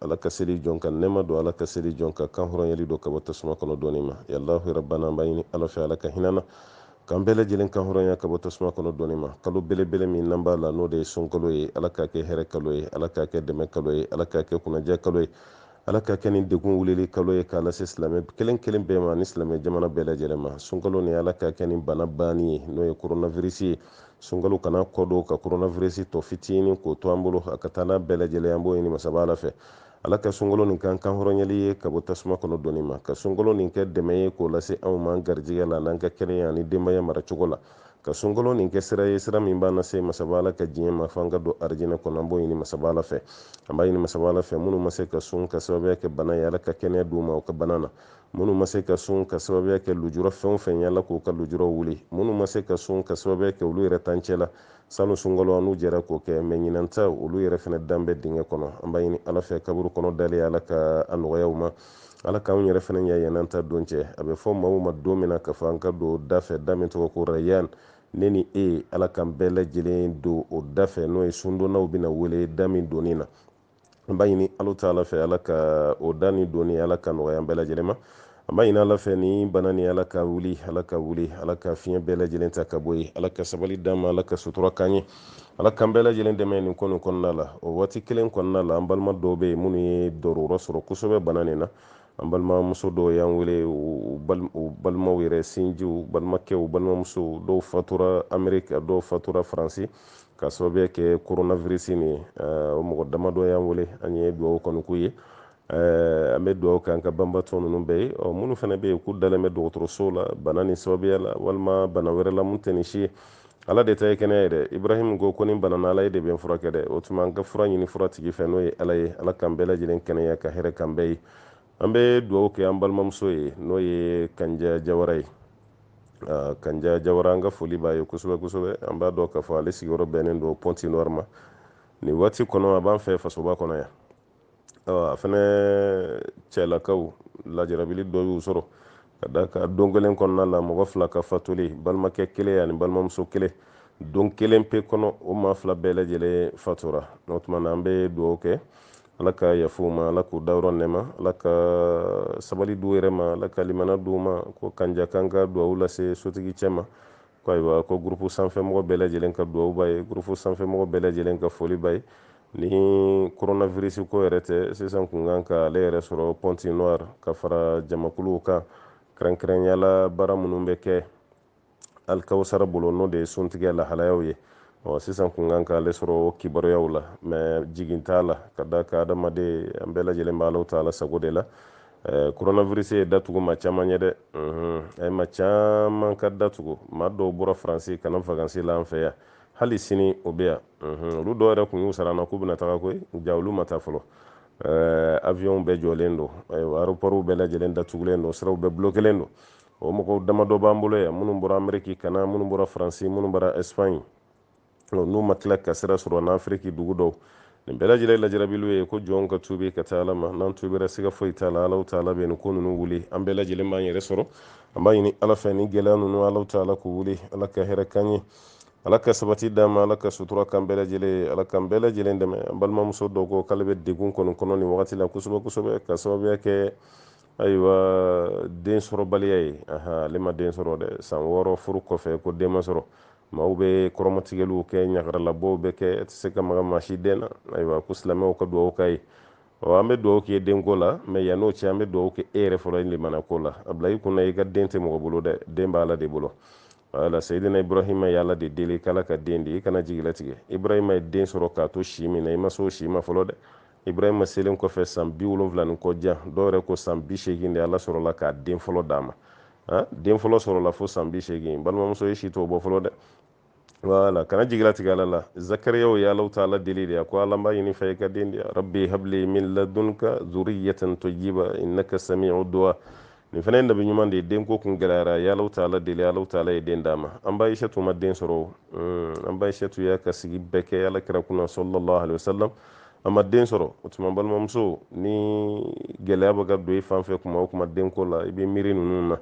ala ka seli jɔn ka nɛma don ala ka seli jɔn ka kan hɔrɔnyali don ka bɔ tasuma kɔnɔ donni ma ya alahu rabbana an b'a ɲini ala fɛ ala ka hin'an na k'an bɛɛ lajɛlen kan hɔrɔnya ka bɔ tasuma kɔnɔ donni ma kalo belebele min n'an b'a la n'o de ye sunkalo ye ala k'a kɛ hɛrɛ kalo ye ala k'a kɛ dɛmɛ kalo ye ala k'a kɛ kunnaja kalo ye ala k'a kɛ ni degun wulili kalo ye k'a lase silamɛ kelen kelen bɛɛ ma ni silamɛ jamana bɛɛ lajɛlen ma sunkalo nin ala k'a kɛ nin bana banni ye n'o ye koronavirisi ye sunkalo kana kɔdon ka koronavirisi tɔ fitinin k'o to an bolo a ka taa n'a bɛɛ lajɛlen an b'o ɲini masaba ala fɛ ala ka sunkalo nin k'an kan hɔrɔnyali ye ka bɔ tasuma kɔnɔ donni ma ka sunkalo nin kɛ dɛmɛ ye k'o lase anw ma an garijigɛ la n'an ka kɛnɛya ani denbaya maracogo la ka sunkalo nin kɛ sira ye sira min b'an lase masaba ala ka diɲɛ ma f'an ka don arijinɛ kɔnɔ an b'o ɲini masaba ala fɛ an b'a ɲini masaba ala fɛ minnu ma se ka sun ka sababuya kɛ bana ye ala ka kɛnɛya d'u ma u ka bana na minnu ma se ka sun ka sababuya kɛ lujura fɛn o fɛn ye ala k'u ka lujuraw wuli minnu ma se ka sun ka sababuya kɛ olu yɛrɛ t'an cɛ la salon sunkalo an n'u jɛra k'o kɛ mɛ ɲinan ta olu yɛrɛ fana dan bɛ dingɛ kɔnɔ an b'a ɲini ala fɛ kaburu kɔnɔ dalen ala k'a nɔgɔya u ma ala k'anw yɛrɛ fana ɲa yann'an ta don cɛ a bɛ fɔ maaw ma don min na k'a fɔ an ka don da fɛ da min tɔgɔ ko rayan ne ni e ala k'an bɛɛ lajɛlen don o da fɛ n'o ye sundonnaw bɛna wele da min donni na an b'a ɲini ala taala fɛ ala ka o da nin donni ala ka nɔgɔya an bɛɛ lajɛlen ma an b'a ɲini ala fɛ nin bana nin ala k'a wuli ala k'a wuli ala k'a fiɲɛ bɛɛ lajɛlen ta ka bɔ yen ala ka sabali d'an ma ala ka sutura k'an ye ala k'an bɛɛ lajɛlen dɛmɛ nin ko nin kɔnɔna la o waati kelen kɔnɔna la an balima dɔw bɛ yen minnu ye dɔrɔrɔ sɔrɔ kosɛbɛ bana nin na an balimamuso dɔw y'an wele u balimaw yɛrɛ sinjiw balimakɛw balimamusow dɔw fatura ameriki a dɔw fatura faransi ka sababuya kɛ coronavirus nin ye o mɔgɔ damadɔ y'an wele an ye dugawu kɔni k'u ye an bɛ dugawu kɛ an ka banbatɔ ninnu bɛɛ ye ɔ minnu fana bɛ yen k'u dalen bɛ dɔgɔtɔrɔsow la bana nin sababuya la walima bana wɛrɛ la mun tɛ nin si ye ala de ta ye kɛnɛya ye dɛ ibrahim ko ko ni n banana ala ye de bɛ n furakɛ dɛ o tuma an ka fura ɲini furatigi fɛ n'o ye ala ye ala k'an bɛɛ lajɛlen kɛnɛya ka hɛrɛ k'an bɛɛ ye an bɛ dugawu kɛ an balimamuso ye n'o ye kanja jawara ye kanja jawara an ka foli b'a ye kosɛbɛ kosɛbɛ an b'a dɔn k'a fɔ ale sigiyɔrɔ bɛnnen don pɔnti nɔri ma nin waati kɔnɔ a b'an fɛ fasoba kɔnɔ yan a fana cɛlakaw lajarabili dɔ y'u sɔrɔ ka d'a kan don kelen kɔnɔna la mɔgɔ fila ka fatuli balimakɛ kelen ani balimamuso kelen don kelen pe kɔnɔ o maa fila bɛɛ lajɛlen fatura o tuma na an bɛ dugawu kɛ ala ka yafa u ma ala k'u dayɔrɔ nɛma ala ka sabali d'u yɛrɛ ma ala ka limana d'u ma ko kanja k'an ka dugawu lase sotigi cɛ ma ko ayiwa ko gurupu sanfɛmɔgɔ bɛɛ lajɛlen ka duwawu b'a ye gurupu sanfɛmɔgɔ bɛɛ lajɛlen ka foli b'a ye ni koronavirisi ko yɛrɛ tɛ sisan kun kan ka ale yɛrɛ sɔrɔ pointe-noire ka fara jamakuluw kan kɛrɛnkɛrɛnya la baara minnu bɛ kɛ alikawusara bolo n'o de ye suntigɛ lahalayaw ye ɔ sisan kun kan k'ale sɔrɔ kibaruyaw la mais jigin t'a la ka d'a kan adamaden an bɛɛ lajɛlen bɛ ala taala sago de la eh, coronavirus ye datugu maa caman ye dɛ mhm. a ye maa caman ka datugu maa dɔw bɔra faransi ka na vakansi la an fɛ yan hali sini o bɛ yan mhm. olu dɔw yɛrɛ kun y'u sara an na k'u bɛna taga koyi jaa olu ma taa fɔlɔ eh, avion bɛɛ jɔlen don ayiwa aéroportw bɛɛ lajɛlen datugulen don siraw bɛɛ bulokelen don o mɔgɔw damadɔ b'an bolo yan minnu bɔra ameriki ka na minnu bɔra faransi minnu bɔra espagne n'u ma tila ka sira sɔrɔ n'afiriki dugu dɔw nin bɛɛ lajɛlen lajarabiliw ye ko jɔnw ka tubi ka taa ala ma n'an tubira siga foyi t'a la alahu taala bɛ nin ko ninnu wuli an bɛɛ lajɛlen b'an yɛrɛ sɔrɔ an b'a ɲini ala fɛ ni gɛlɛya ninnu alahu taala k'u wuli ala ka hɛrɛ k'an ye ala ka sabati d'an ma ala ka sutura k'an bɛɛ lajɛlen ala k'an bɛɛ lajɛlen dɛmɛ an balimamuso dɔ ko k'ale bɛ degun kɔni kɔnɔ nin wagati la kosɛbɛ kosɛbɛ ka sababuya kɛ ayiwa den sɔrɔbaliya ye ale ma den sɔrɔ dɛ san wɔɔrɔ furu kɔfɛ ko den ma sɔrɔ maaw bɛ kɔrɔmatigɛliw kɛ ɲagaralabɔw bɛ kɛ e tɛ se ka maga maa si den na ayiwa ko silamɛw ka dugawu k'a ye ɔ an bɛ dugawu k'i ye denko la mais yann'o cɛ an bɛ dugawu kɛ e yɛrɛ fɔlɔ limana ko la a bila i kunna i ka den tɛ mɔgɔ bolo dɛ den b'ala de bolo wala seyidina ibrahima ye ala de deli k'ala ka den di i kana jigilatigɛ ibrahima ye den sɔrɔ k'a to si min na i ma se o si ma fɔlɔ dɛ ibrahima selen kɔfɛ san bi wolonwula ni kɔjan dɔw yɛrɛ ko san bi seegin de ala sɔrɔla k'a den fɔlɔ d'a ma ah, den fɔlɔ sɔrɔla fo san bi seegin balimamuso e si t'o bɔ fɔlɔ dɛ wala kana jigilatigɛ ala la zakariyaw ye alahu taala deli de a ko ala n b'a ɲini i fɛ i ka den di rabbi habli min ladunka zuriyatan tayyiba innaka sami'u du'a nin fana ye nabi ɲuman de ye denko kun gɛlɛyara a ye alahu taala deli alahu taala ye den d'a ma an ba ayisatu ma den sɔrɔ hmm, an ba ayisatu y'a ka sigi bɛɛ kɛ ala kira kunna sallallahu alaihi wasallam a ma den sɔrɔ o tuma balimamuso ni gɛlɛya bɛ ka don i fan fɛ kuma o kuma denko la i bɛ miiri ninnu na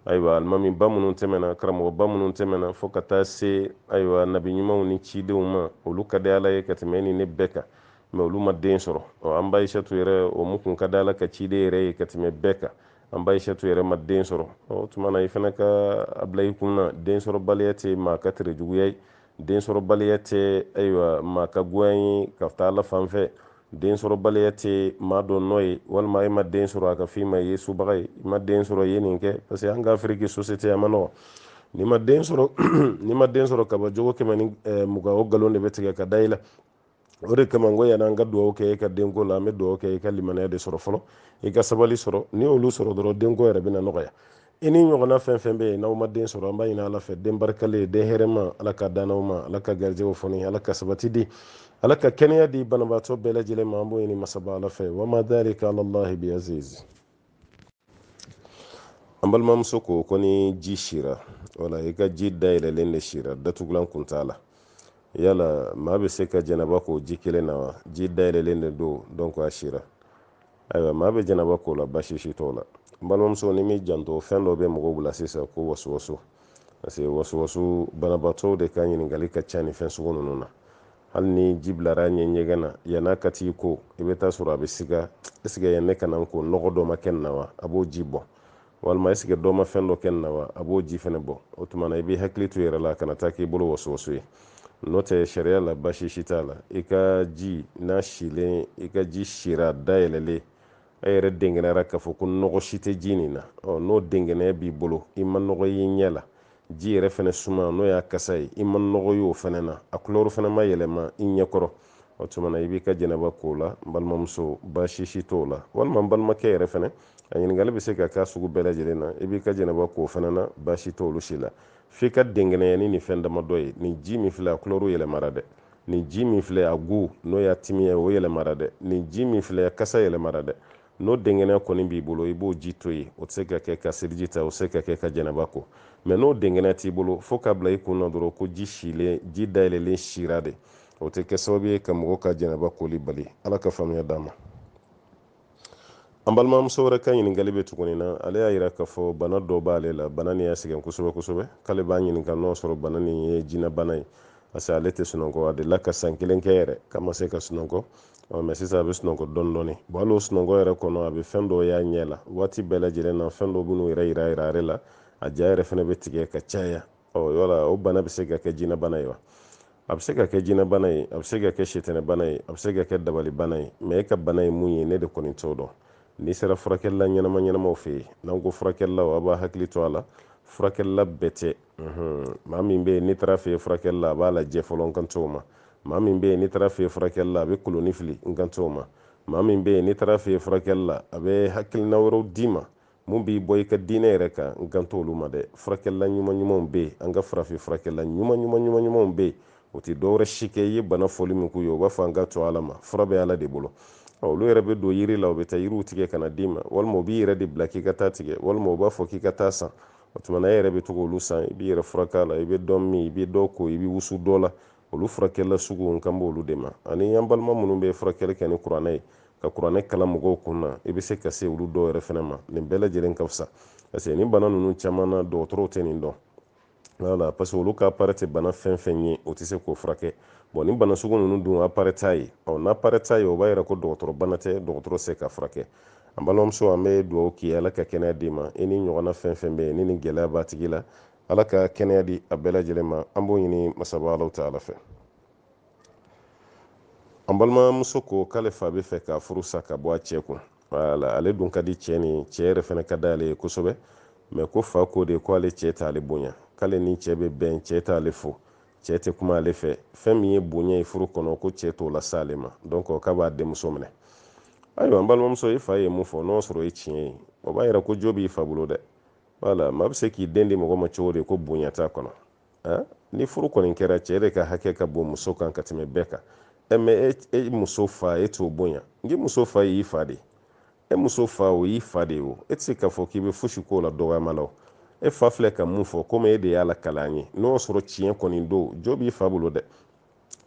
ayiwa alimamiba minnu tɛmɛna karamɔgɔba minnu tɛmɛna fo ka taa se ayiwa nabi ɲumanw ni cidenw ma olu ka di ala ye ka tɛmɛ e ni ne bɛɛ kan mais olu ma den sɔrɔ ɔ an ba ayisatu yɛrɛ o min kun ka di ala ka ciden yɛrɛ ye ka tɛmɛ bɛɛ kan an ba ayisatu yɛrɛ ma den sɔrɔ o tuma na i fana ka a bila i kun na den sɔrɔbaliya tɛ maa ka tere juguya ye den sɔrɔbaliya tɛ ayiwa maa ka goya ye ka taa ala fan fɛ den sɔrɔbaliya tɛ maa dɔ nɔ ye walima e ma den sɔrɔ a k'a f'i ma i ye subaga ye i ma den sɔrɔ i ye nin kɛ parce que an ka afiriki société a ma nɔgɔ n'i ma den sɔrɔ n'i ma den sɔrɔ kaba jogo kɛmɛ ni mugan o nkalon de bɛ tigɛ ka da i la o de kama ko yan'an ka dugawu kɛ e ka denko la an bɛ dugawu kɛ e ka limaniya de sɔrɔ fɔlɔ i ka sabali sɔrɔ n'i y'olu sɔrɔ dɔrɔn denko yɛrɛ bɛna nɔgɔya i ni ɲɔgɔnna fɛn fɛn bɛ yen n'aw ma den sɔrɔ an b'a ɲini ala fɛ den barikalen den hɛrɛma ala k'a d'an n'aw ma ala ka garijɛw foni ala ka sabati di ala ka kɛnɛya di banabaatɔ bɛɛ lajɛlen ma an b'o ɲini masaba ala fɛ wama dalika alallahi biaziz an balimamuso ko ko ni ji sira wala i ka ji dayɛlɛlen de sira datugulan kun t'a la yala maa bɛ se ka jɛnaba k'o ji kelen na wa ji dayɛlɛlen de don donc a sira ayiwa maa bɛ jɛnaba k'o la basi si t'o la n balimamuso n'i m'i janto fɛn dɔ bɛ mɔgɔw bila sisan ko wasuwasu parce que wasuwasu banabaatɔw de ka ɲininkali ka ca nin fɛn sugu ninnu na hali ni ji bilar'a ɲɛ ɲɛgɛn na yan'a ka t'i ko i bɛ t'a sɔrɔ a bɛ siga est-ce que yan ne ka na n ko nɔgɔ dɔ ma kɛ nin na wa a b'o ji bɔ walima est-ce que dɔ ma fɛn dɔ kɛ nin na wa a b'o ji fɛnɛ bɔ o tuma na i b'i hakili to i yɛrɛ la kana taa k'i bolo wasuwasu ye n'o tɛ sariya la basi si t'a la i ka ji n'a silen i ka ji sira dayɛlɛlen e yɛrɛ denkɛnɛyara k'a fɔ ko nɔgɔ si tɛ ji nin na ɔ n'o denkɛnɛya b'i bolo i ma nɔgɔ y'i ɲɛ la ji yɛrɛ fɛnɛ suma n'o y'a kasa ye i ma nɔgɔ y'o fɛnɛ na a couleur fɛnɛ ma yɛlɛma i ɲɛkɔrɔ o tuma na i b'i ka jɛnɛba k'o la n balimamuso baasi si t'o la walima n balimakɛ yɛrɛ fɛnɛ a ɲininkali bɛ se ka k'a sugu bɛɛ lajɛlen na i b'i ka jɛnɛba k'o fɛnɛ na baasi t'olu si la f'i ka denkɛnɛya ni nin fɛn damadɔ ye nin ji min filɛ a couleur yɛlɛmara dɛ nin ji min filɛ a goût n'o y'a timiya ye o yɛlɛmara dɛ nin ji min filɛ kasa yɛlɛmara dɛ n'o denkɛnɛya kɔni b'i bolo i b'o ji to yen o tɛ se ka kɛ ka seliji ta o tɛ se ka kɛ ka jɛnɛba ko mais n'o denkɛnɛya t'i bolo fo k'a bila i kun na dɔrɔn ko ji silen ji dayɛlɛlen sira de o tɛ kɛ sababu ye ka mɔgɔ ka jɛnɛba koli bali ala ka faamuya d'an ma an balimamuso wɛrɛ ka ɲininkali bɛ tugu nin na ale y'a yira k'a fɔ bana dɔ b'ale la bana nin y'a sɛgɛn kosɛbɛ kosɛbɛ k'ale b'a ɲininka n'o sɔrɔ bana nin ye jinɛbana ye parce que ale tɛ sunɔgɔ a delila ka san kelen kɛ yɛrɛ k'a ma se ka sunɔgɔ mais sisan a bɛ sunɔgɔ dɔɔni dɔɔni bon hali o sunɔgɔ yɛrɛ kɔnɔ a bɛ fɛn dɔw y'a ɲɛ la waati bɛɛ lajɛlen na fɛn dɔw bɛ n'u yɛrɛ yira yira ale la a ja yɛrɛ fana bɛ tigɛ ka caya ɔ yala o bana bɛ se ka kɛ jinɛbana ye wa a bɛ se ka kɛ jinɛbana ye a bɛ se ka kɛ sitanɛbana ye a bɛ se ka kɛ dabalibana ye mais e ka bana ye mun ye ne de kɔni t'o dɔn n'i sera furakɛlila ɲɛnama ɲɛnamaw fɛ yen n'an ko furakɛlilaw a b'a hakili to a la furakɛlila bɛɛ tɛ maa min bɛ yen n'i taar'a fɛ furakɛli la a b'a lajɛ fɔlɔ n kan t'o ma maa min bɛ yen n'i taar'a fɛ furakɛli la a bɛ kolonin fili n kan t'o ma maa min bɛ yen n'i taar'a fɛ furakɛli la a bɛ hakilina wɛrɛw d'i ma min b'i bɔ i ka diinɛ yɛrɛ kan n kan t'olu ma dɛ furakɛlila ɲuman ɲumanw bɛ yen an ka farafin furakɛlila ɲuman ɲuman ɲuman ɲumanw bɛ yen o tɛ dɔwɛrɛ si kɛ i ye bana fɔli min k'u ye u b'a fɔ an k'a to ala ma fura bɛ ala de bolo olu yɛrɛ bɛ don yiri la u bɛ taa yiriw tigɛ ka n'a d'i ma walima u b'i yɛrɛ de bila k'i ka t'a tigɛ walima u b'a fɔ k'i ka t'a san o tuma na e yɛrɛ bɛ to k'olu san i b'i yɛrɛ furakɛ a la i bɛ dɔ min i bɛ dɔ ko i bɛ wusu dɔ la olu furakɛlila sugu n kan b'olu de ma ani an balima minnu bɛ furakɛli kɛ ni kuranɛ ye ka kuranɛ kalan mɔgɔw kun na i bɛ se ka se olu dɔw yɛrɛ fɛnɛ ma nin bɛɛ lajɛlen ka fisa parce que nin bana ninnu caman na dɔgɔtɔrɔw tɛ nin dɔn voilà parce que olu ka appareil tɛ bana fɛn fɛn ye o tɛ se k'o furakɛ bon ni bana sugu ninnu dun appareil t'a ye ɔ n'appareil t'a ye o b'a yira ko dɔgɔtɔrɔ bana tɛ dɔgɔtɔrɔ se k'a furakɛ an balimamuso an bɛ dugawu k'i ye ala ka kɛnɛya d'i ma i ni ɲɔgɔnna fɛn fɛn bɛ yen ni nin gɛlɛya b'a tigi la ala ka kɛnɛya di a bɛɛ lajɛlen ma an b'o ɲini masaba alahu taala fɛ an balimamuso ko k'ale fa bɛ fɛ ka furu sa k'a bɔ a cɛ kun voilà ale dun ka di cɛ ni cɛ yɛrɛ fana ka d'ale ye kosɛbɛ mais ko fa ko de ko ale cɛ t'ale bonya k'ale ni cɛ bɛ bɛn cɛ t'ale fo cɛ tɛ kuma ale fɛ fɛn min ye bonya ye furu kɔnɔ ko cɛ t'o lase ale ma donc k'a b'a denmuso minɛ ayiwa n balimamuso i fa ye mun fɔ n'o sɔrɔ ye tiɲɛ ye o b'a yira ko jo b'i fa bolo dɛ voilà maa bɛ se k'i den di mɔgɔ ma cogo di ko bonya t'a kɔnɔ ah, ni furu kɔni kɛra cɛ de ka hakɛ ka bon muso kan ka tɛmɛ bɛɛ kan ɛ mais e, e muso fa e t'o bonya n'i muso fa y'i fa de e muso fa o y'i fa de ye o e tɛ se k'a fɔ k'i bɛ fosi k'o la dɔgɔyama la o e fa filɛ ka mun fɔ komi e de y'a lakala an ye n'o sɔrɔ tiɲɛ kɔni don jo b'i fa bolo dɛ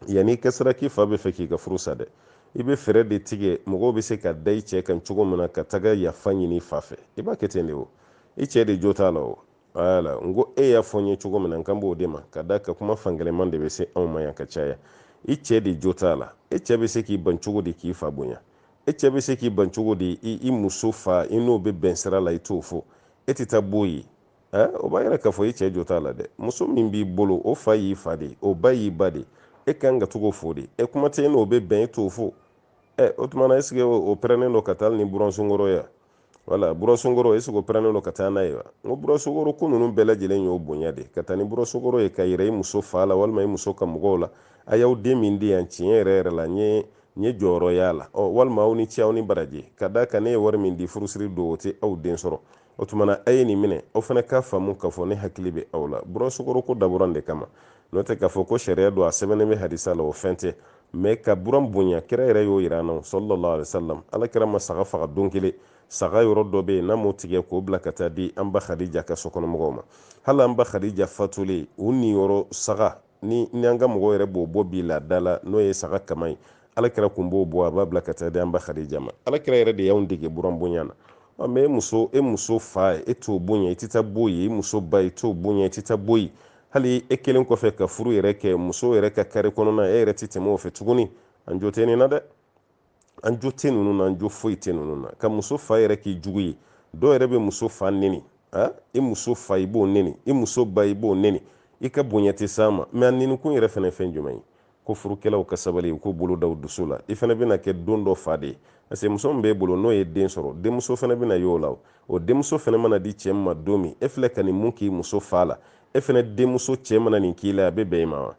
yanni i ka siran k'i fa bɛ fɛ k'i ka furu sa dɛ i bɛ fɛɛrɛ de tigɛ mɔgɔw bɛ se ka da i cɛ kan cogo min na ka taga yafa ɲini i fa fɛ i b'a kɛ ten de o i cɛ de jo t'a la o voilà n ko e y'a fɔ n ye cogo min na n kan b'o de ma ka d'a kan kuma fankelenma de bɛ se anw ma yan ka caya i cɛ de jo t'a la e cɛ bɛ se k'i ban cogo di k'i fa bonya e cɛ bɛ se k'i ban cogo di i muso fa i n'o bɛ bɛn sira la i t'o fo e tɛ taa b'o ye o b'a yira k'a fɔ i cɛ jo t'a la dɛ muso min b'i bolo o fa y'i fa de o ba y'i ba de e ka kan ka to k'o fo de e kuma tɛ e n'o bɛ bɛn e t'o fo ɛ o tuma na est-ce que o parelen don ka taa ni buransukaro ye voilà buransukaro est-ce qu'o parelen don ka taa n'a ye wa n ko buransukaro ko ninnu bɛɛ lajɛlen y'o bonya de ka taa ni buransukaro ye k'a yira i muso fa la walima i muso ka mɔgɔw la a y'aw den min di yan tiɲɛ yɛrɛ yɛrɛ la n ye n ye jɔyɔrɔ y'a la ɔ walima aw ni ce aw ni baraji ka d'a kan ne ye wari min di furusiri don o tɛ aw den sɔrɔ o tuma na a ye nin minɛ aw fana k'a faamu k'a fɔ ne hakili bɛ aw la buransukaro ko dabɔra o de kama n'o tɛ k'a fɔ ko sariya don a sɛbɛnnen bɛ hadisa la o fɛn tɛ mais ka buran bonya kira yɛrɛ y'o yira an na sallallahu alaihi wasallam ala kira ma saga faga don kelen saga yɔrɔ dɔ bɛ yen n'a m'o tigɛ k'o bila ka taa di an ba khadija ka sokɔnɔmɔgɔw ma hali an ba khadija fatulen o niyɔrɔ saga ni ni an ka mɔgɔw yɛrɛ b'o bɔ bi laada la n'o ye saga kaman ye ala kira tun b'o bɔ a b'a bila ka taa di an ba khadija ma ala kira yɛrɛ de y'anw dege buran bonya na ɔ mais e muso e muso fa e t'o bonya i tɛ taa b'o ye i muso ba i t'o bonya i tɛ taa b'o ye hali e kelen kɔfɛ ka furu yɛrɛ kɛ muso yɛrɛ ka kari kɔnɔna e yɛrɛ tɛ tɛmɛ o fɛ tuguni an jo tɛ nin na dɛ an jo tɛ ninnu na an jo foyi tɛ ninnu na ka muso fa yɛrɛ k'i jugu ye dɔw yɛrɛ bɛ muso fa neni a i muso fa i b'o neni i muso ba i b'o neni i ka bonya tɛ s'a ma mɛ a nenikun yɛrɛ fana ye fɛn jumɛn ye ko furukɛlaw ka sabali u k'u bolo da u dusu la i fana bɛna kɛ don dɔ fa de ye parce que muso min b'e bolo n'o ye den sɔrɔ denmuso fana bɛna y'o la o denmuso fana mana di cɛ min ma don min e filɛ ka nin mun k'i muso fa la e fana denmuso cɛ mana nin k'i la a bɛ bɛn i ma wa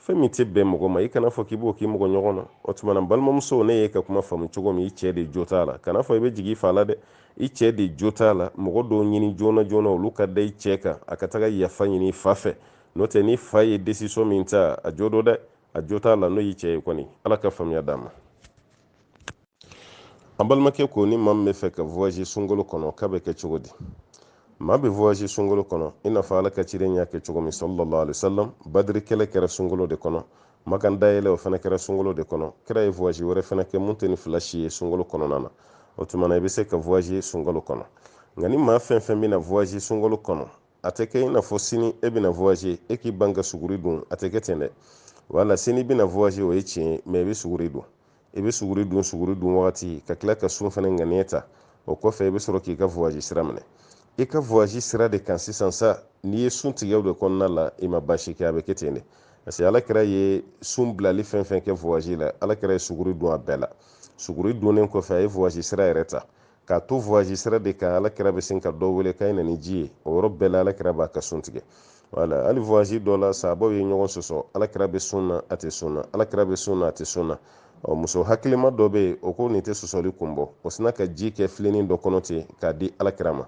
fɛn min tɛ bɛn mɔgɔ ma i kana fɔ k'i b'o k'i mɔgɔ ɲɔgɔn na o tuma na balimamuso ne y'e ka kuma faamu cogo min i cɛ de jo t'a la kana fɔ i bɛ jigin i fa la dɛ i cɛ de jo t'a la mɔgɔ dɔw ɲini joona joona olu ka da i cɛ kan a ka taga yafa ɲini i fa fɛ n'o tɛ ni fa ye décision min ta a jo don dɛ a jo t'a la n'o y'i cɛ ye kɔni ala ka faamuya d'a ma an balimakɛ ko ni maa min bɛ fɛ ka voyage sunkalo kɔnɔ k'a bɛ kɛ cogo di maa bɛ voyage sunkalo kɔnɔ i n'a fɔ ala ka ciden y'a kɛ cogo min sallallahu alaihi wasallam badiri kɛlɛ kɛra sunkalo de kɔnɔ makan dayɛlɛ o fana kɛra sunkalo de kɔnɔ kira ye voyage wɛrɛ fana kɛ mun tɛ nin fila si ye sunkalo kɔnɔna na o tuma na i bɛ se ka voyage sunkalo kɔnɔ nka ni maa fɛn fɛn bɛna voyage sunkalo kɔnɔ a tɛ kɛ i n'a fɔ sini e bɛna voyage e k'i ban ka suguri dun a tɛ kɛ ten dɛ wala sini i bɛna voyage o ye tiɲɛ ye mɛ i bɛ suguri dun i bɛ suguri dun suguri dun wagati ka tila ka sun fana ŋaniya ta o kɔfɛ i bɛ sɔrɔ k'i ka voyage sira minɛ i ka voyage sira de kan sisan sa n'i ye sun tigɛ o de kɔnɔna la i ma baasi kɛ a bɛ kɛ ten de parce que ala kira ye sun bilali fɛn fɛn kɛ voyage la ala kira ye suguri dun a bɛɛ la suguri dunnen kɔfɛ a ye voyage sira yɛrɛ ta k'a to voyage sira de kan ala kira bɛ sin ka dɔ wele k'a ye na ni ji ye o yɔrɔ bɛɛ la ala kira b'a ka sun tigɛ wala hali voyage dɔ la sabaw ye ɲɔgɔn sɔsɔ ala kira bɛ sun na a tɛ sun na ala kira bɛ sun na a tɛ sun na ɔ muso hakilima dɔ bɛ yen o ko nin tɛ sɔsɔli kun bɔ o sinna ka ji kɛ filenin dɔ kɔnɔ ten k'a di ala kira ma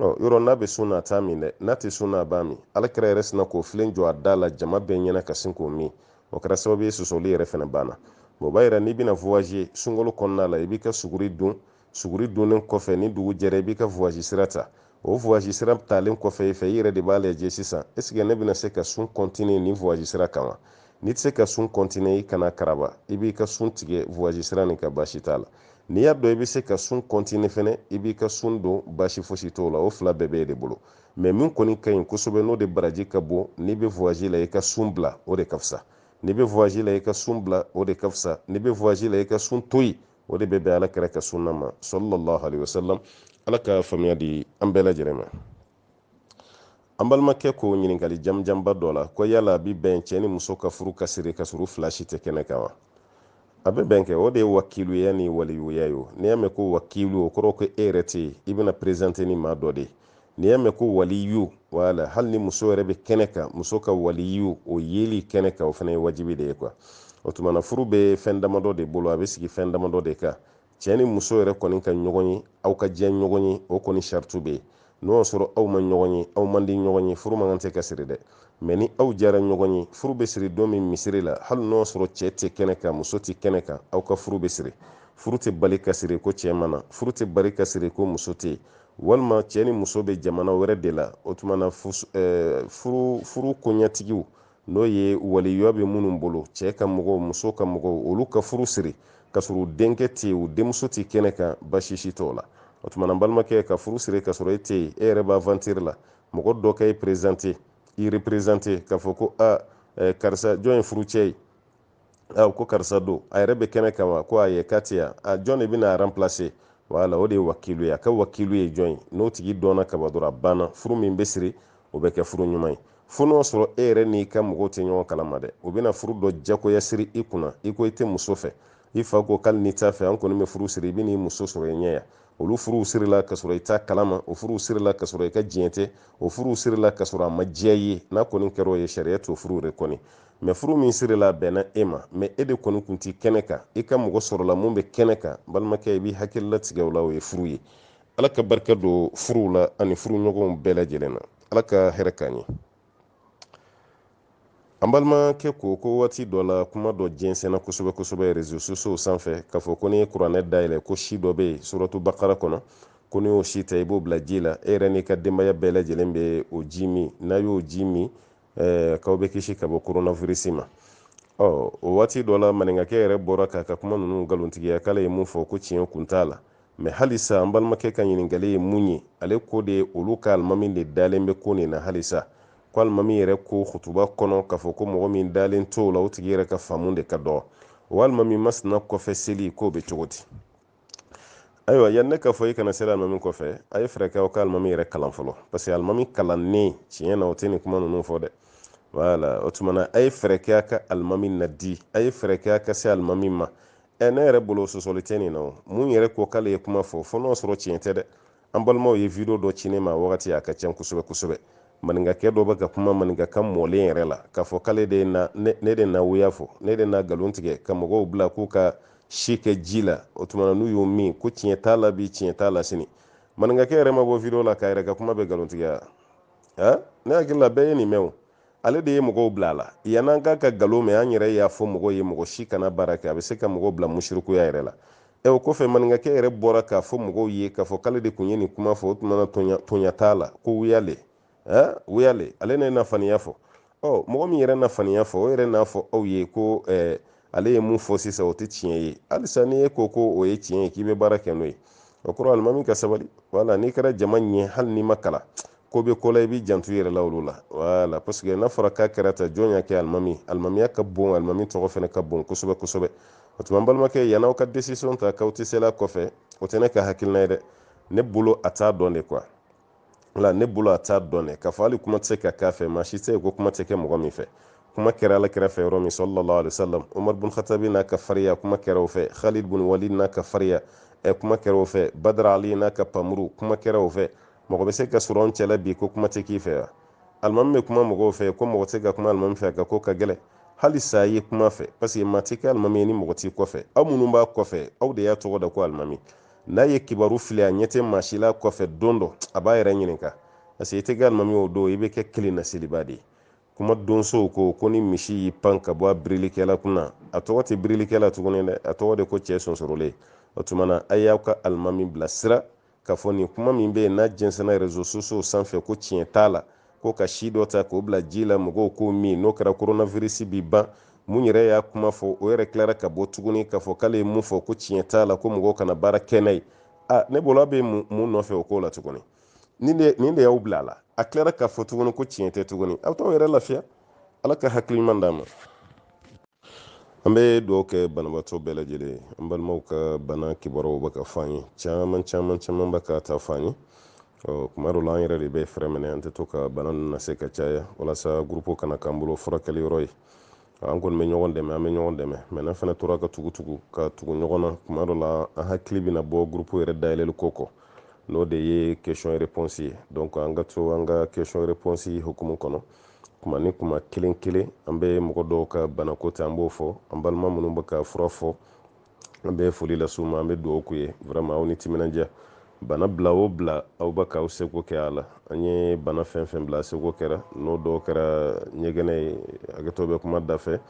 o yɔrɔ n'a bɛ sun na a t'a min dɛ n'a tɛ sun na a b'a min ala kira yɛrɛ sinna k'o filen jɔ a da la jama bɛɛ ɲɛna ka sin k'o min o kɛra sababu ye sɔsɔli yɛrɛ fana banna o b'a yira n'i bɛna voyage sunkalo kɔnɔna la i b'i ka suguri dun suguri dunnen kɔfɛ ni dugu jɛra i b'i ka voyage sira ta o voyage sira talen kɔfɛ i fɛ i yɛrɛ de b'a lajɛ sisan est ce que ne bɛna se ka sun continuer nin voyage sira kan wa n'i tɛ se ka sun continuer i kana karaba i b'i ka sun tigɛ voyage sira nin kan baasi t'a la n'i y'a dɔn i bɛ se ka sun continuer fɛnɛ i b'i ka sun don baasi fosi t'o la o fila bɛɛ b'e de bolo mɛ min kɔni ka ɲi kosɛbɛ n'o de baraji ka bon n'i bɛ voyage la i ka sun bila o de ka fisa n'i bɛ voyage la i ka sun bila o de ka fisa n'i bɛ voyage la i ka sun to yen o de bɛ bɛn ala kira ka sunna ma sallallahu alaihi wasallam ala ka faamuya di an bɛɛ lajɛlen ma an balimakɛ ko ɲininkali jamujanba dɔ la ko yala a bi bɛn cɛ ni muso ka furu ka siri ka sɔrɔ u fila si tɛ kɛnɛ kan wa a bɛ bɛn kɛ o de ye wakiluya ni waliyuya ye n'i y'a mɛn ko wakilu o kɔrɔ ko e yɛrɛ tɛ yen i bɛna présenter ni maa dɔ de ye n'i y'a mɛn ko waliyu wala hali ni muso yɛrɛ bɛ kɛnɛ kan muso ka waliyu o yeli kɛnɛ kan o fana ye wajibi de ye quoi o tuma na furu bɛ fɛn damadɔ de bolo a bɛ sigi fɛn damadɔ de kan cɛ ni muso yɛrɛ kɔni ka ɲɔgɔn ye aw ka diya ɲɔgɔn ye o kɔni saritu bɛ yen n'o y'a sɔrɔ aw ma ɲɔgɔn ye aw man di ɲɔgɔn ye furu man kan tɛ ka siri dɛ mɛ ni aw diyara ɲɔgɔn ye furu bɛ siri don min misiri la hali n'o y'a sɔrɔ cɛ tɛ kɛnɛ kan muso tɛ kɛnɛ kan aw ka furu bɛ siri furu tɛ bali ka siri ko cɛ ma na furu tɛ bali ka siri ko muso tɛ walima cɛ ni muso bɛ jamana wɛrɛ de la o tuma na furu koɲɛtigiw n'o ye waliyuya bɛ minnu bolo cɛ ka mɔgɔw muso ka mɔgɔw olu ka furu siri ka sɔrɔ u denkɛ tɛ yen u denmuso tɛ kɛnɛ kan baasi si t'o la o tuma na balimakɛ ka furu siri ka sɔrɔ e tɛ yen e yɛrɛ b'aventure la mɔgɔ dɔ ka e présenter i représenter k'a fɔ ko karisa jɔn ye furu cɛ ye a ko karisa don a yɛrɛ bɛ kɛnɛ kan wa ko ayi k'a tɛ yan a jɔn de bɛna remplacer wala o de ye wakilu ye a ka wakilu ye jɔn ye n'o tigi dɔnna kaban dɔrɔn a banna furu min bɛ siri o bɛ kɛ furu ɲuman ye fo n'o sɔrɔ e yɛrɛ n'i ka mɔgɔw tɛ ɲɔgɔn kalama dɛ o bɛna furu dɔ jagoya siri i kunna i ko i tɛ muso fɛ i fa ko k'ali n'i t'a fɛ an kɔni bɛ furu siri i bɛ n'i muso sɔrɔ i ɲɛ yan olu furuw sirila ka sɔrɔ i t'a kalama o furuw sirila ka sɔrɔ i ka diɲɛ tɛ o furuw sirila ka sɔrɔ a ma diya i ye n'a kɔni kɛra o ye sariya t'o furu de kɔni mɛ furu min sirila a bɛnna e ma mɛ e de kɔni kun tɛ kɛnɛ kan i ka mɔgɔ sɔrɔla mun bɛ kɛnɛ kan balimakɛ i b'i hakili latigɛ o la o ye furu ye ala ka barika don furuw la ani furu ɲɔgɔnw bɛɛ lajɛlen na ala ka hɛrɛ k'an ye an balimakɛ ko ko waati dɔ la kuma dɔ jɛnsɛnna kosɛbɛ kosɛbɛ réseaux sociaux sanfɛ k'a fɔ ko n'i ye kuranɛ dayɛlɛ ko si dɔ bɛ yen suratu bakara kɔnɔ ko n'i y'o si ta i b'o bila ji la e yɛrɛ n'i ka denbaya bɛɛ lajɛlen bɛ o ji min n'a y'o ji min eh, k'aw bɛ kisi ka bɔ koronavirisi ma ɔ o waati dɔ la maninkakɛ yɛrɛ bɔra k'a ka kuma ninnu nkalontigiya k'ale ye mun fɔ ko tiɲɛ kun t'a la mɛ halisa an balimakɛ ka ɲininkali ye mun ye ale ko de olu ka alimami de dalen bɛ ko nin na halisa ko alimami yɛrɛ ko hutuba kɔnɔ k'a fɔ ko mɔgɔ min dalen t'o la o tigi yɛrɛ ka faamu de ka dɔgɔ o alimami masina kɔfɛ seli k'o bɛ cogo di ayiwa yanni n k'a fɔ i kana seli alimami kɔfɛ a ye fɛɛrɛ kɛ aw ka alimami yɛrɛ kalan fɔlɔ parce que alimami kalannen tiɲɛ na o tɛ nin kuma ninnu fɔ dɛ wala o tuma na a ye fɛɛrɛ kɛ a ka alimami nadi a ye fɛɛrɛ kɛ a ka se alimami ma ɛ ne yɛrɛ bolo sɔsɔli tɛ nin na o mun yɛrɛ ko k'ale ye kuma fɔ fo n'o sɔrɔ tiɲɛ tɛ dɛ an balimaw ye video dɔ ci ne ma wagati a ka ca kosɛbɛ kosɛbɛ maninkakɛ dɔ bɛ ka kuma maninkakan mɔlen yɛrɛ la k'a fɔ k'ale de na ne de na wuya fɔ ne de na nkalon tigɛ ka mɔgɔw bila k'u ka si kɛ ji la o tuma na n'u y'o min ko tiɲɛ t'a la bi tiɲɛ t'a la sini maninkakɛ yɛrɛ ma bɔ video la k'a yɛrɛ ka kuma bɛ nkalontigiya a ne hakili la bɛɛ ye nin mɛn o ale de ye mɔgɔw bila a la yann'an k'a ka nkalon mɛn an yɛrɛ y'a fɔ mɔgɔw ye mɔgɔ si kana baara kɛ a bɛ se ka mɔgɔw bila musirikuya yɛrɛ la ɛ o kɔfɛ maninkakɛ yɛrɛ bɔra k'a fɔ mɔgɔw ye k'a fɔ k'ale de kun ye nin kuma fɔ o tuma na toɲa t'a la ko wuya le ɛ wuya le ale ne na faniya fɔ ɔ mɔgɔ min yɛrɛ na faniya fɔ o yɛrɛ n'a fɔ aw ye ko ɛɛ ale ye mun fɔ sisan o tɛ tiɲɛ ye halisa ni e ko ko o ye tiɲɛ ye k'i bɛ baara kɛ n'o ye o kɔrɔ alimami ka sabali wala n'i kɛra jama ɲɛ hali n'i ma kalan ko bɛ ko la i b'i janto i yɛrɛ la olu la wala parce que n'a fɔra k'a kɛra tan jɔn y'a kɛ alimami alimamiya ka bon alimami tɔgɔ fana ka bon kosɛbɛ kosɛbɛ o tuma n balimakɛ yann'aw ka décision ta k'aw tɛ seli a kɔfɛ o tɛ ne ka hakilina ye dɛ ne bolo a t'a dɔn de quoi wala ne bolo a t'a dɔn dɛ k'a fɔ hali kuma tɛ se ka k'a fɛ maa si tɛ yen ko kuma tɛ kɛ mɔgɔ min fɛ kuma kɛra ala kira fɛ yɔrɔ min sallallahu alaihi wasallam umar bin khatabi n'a ka fariya kuma kɛra o fɛ khalid bin walid n'a ka fariya ɛ kuma kɛra o fɛ badr ali n'a ka npanmuru kuma kɛra o fɛ mɔgɔ bɛ se ka sɔrɔ an cɛla bi ko kuma tɛ k'i fɛ wa alimami bɛ kuma mɔgɔw fɛ ko mɔgɔ tɛ se ka kuma alimami fɛ a ka ko ka gɛlɛn halisa a ye kuma a fɛ parce que maa tɛ kɛ alimami ye ni mɔgɔ t'i kɔfɛ aw minnu b'a kɔfɛ aw de y'a tɔgɔ da ko alimami n'a ye kibaru fili a ɲɛ tɛ maa si la kɔfɛ don dɔ a b'a yɛrɛ ɲininka parce que i tɛ kɛ alimami o don i bɛ kɛ kelen na selibaa de ye kuma donsow ko ko ni misi y'i pan ka bɔ a birilikɛla kunna a tɔgɔ tɛ birilikɛla tuguni dɛ a tɔgɔ de ko cɛ sonsorolen o tuma na a y'aw ka alimami bilasira k'a fɔ nin kuma min bɛ yen n'a jɛnsɛnna réseaux sociaux sanfɛ ko tiɲɛ t'a la ko ka si dɔ ta k'o bila ji la mɔgɔw k'o min n'o kɛra koronavirisi bi ban mun yɛrɛ y'a kuma fɔ o yɛrɛ tilara ka bɔ tuguni k'a fɔ k'ale ye mun fɔ ko tiɲɛ t'a la ko mɔgɔw kana baara kɛ n'a ye a ne bolo a bɛ mun nɔfɛ o ko la tuguni nin de y'aw bila a la a tilara k'a fɔ tuguni ko tiɲɛ tɛ tuguni aw t'aw yɛrɛ lafiya ala ka hakili ɲuman d'a ma an bɛ dugawu kɛ banabaatɔ bɛɛ lajɛlen ye an balimaw ka bana kibaruyaw bɛ ka fɔ an ye caman caman caman bɛ k'a ta fɔ an ye ɔ kuma dɔ la an yɛrɛ de bɛ fɛrɛn minɛ an tɛ to ka bana ninnu lase ka caya walasa gurupu kana k'an bolo furakɛli yɔrɔ ye an kɔni bɛ ɲɔgɔn dɛmɛ an bɛ ɲɔgɔn dɛmɛ mais n'an fana tora ka tugutugu ka tugu ɲɔgɔn na kuma dɔ la an hakili bɛna bɔ gurupu yɛrɛ dayɛlɛli ko kɔ n'o de ye question réponse ye donc an ka to an ka question réponse hukumu kɔnɔ kuma ni kuma kelen kelen an bɛ mɔgɔ dɔw ka banako ta an b'o fɔ an balima minnu bɛ ka fura fɔ an bɛ foli las'u ma an bɛ dugawu k'u ye vraiment aw ni timinandiya bana bila o bila aw bɛ k'aw seko kɛ a la an ye bana fɛn fɛn bila a seko kɛra n'o dɔw kɛra ɲɛgɛnɛ ye hakɛto bɛ kuma da fɛ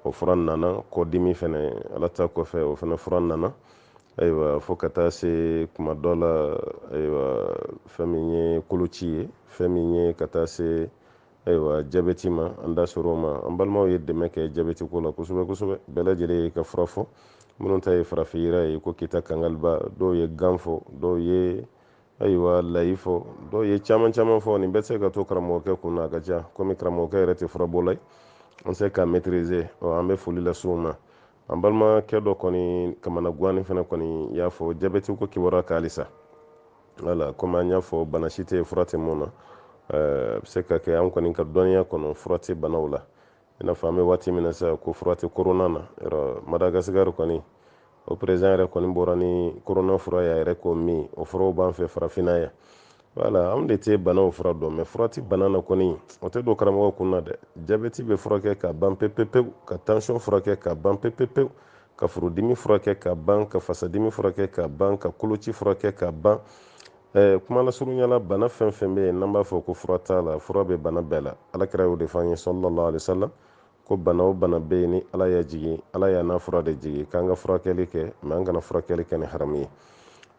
o fura nana kɔdimi fɛnɛ ala ta kɔfɛ o fɛnɛ fura nana ayiwa fo ka taa se kuma dɔ la ayiwa fɛn min ye koloci ye fɛn min ye ka taa se ayiwa jabɛti ma an da sera o ma an balimaw ye dɛmɛ kɛ jabɛti ko la kosɛbɛ kosɛbɛ bɛɛ lajɛlen y'i ka fura fɔ minnu ta ye farafin yiri ye ko kita kangaliba dɔw ye gan fɔ dɔw ye ayiwa layi fɔ dɔw ye caman caman fɔ nin bɛɛ tɛ se ka to karamɔgɔkɛ kun na a ka ca komi karamɔgɔkɛ yɛrɛ tɛ furabɔla ye an se k'a maîtriser ɔ an bɛ foli lase u ma an balimakɛ dɔ kɔni kamana gannen fana kɔni y'a fɔ jabɛti ko kibaruya kan halisa wala komi an y'a fɔ bana si tɛ fura tɛ min na eh, a bɛ se ka kɛ an kɔni ka dɔnniya kɔnɔ fura tɛ banaw la i n'a fɔ an bɛ waati min na sisan ko fura tɛ korona na yɔrɔ madagasikari kɔni o perezidan yɛrɛ kɔni bɔra ni korona fura y'a yɛrɛ k'o min o furaw b'an fɛ farafinna yan wala anw de tɛ banaw fura dɔn mɛ fura tɛ bana na kɔni o tɛ don karamɔgɔ kun na dɛ jabɛti bɛ furakɛ ka ban pepepewu ka tansiyɔn furakɛ ka ban pepepewu ka furudimi furakɛ ka ban ka fasadimi furakɛ ka ban ka koloci furakɛ ka ban eh, kuma lasurunya la bana fɛn fɛn bɛ yen n'an b'a fɔ ko fura t'a la fura bɛ bana bɛɛ la ala kira y'o de fɔ an ye sallallahu alaihi wasallam ko bana o bana bɛ yen ni ala y'a jigin ala y'a n'a fura de jigin k'an ka furakɛli kɛ mɛ an kana furakɛli kɛ ni haramu ye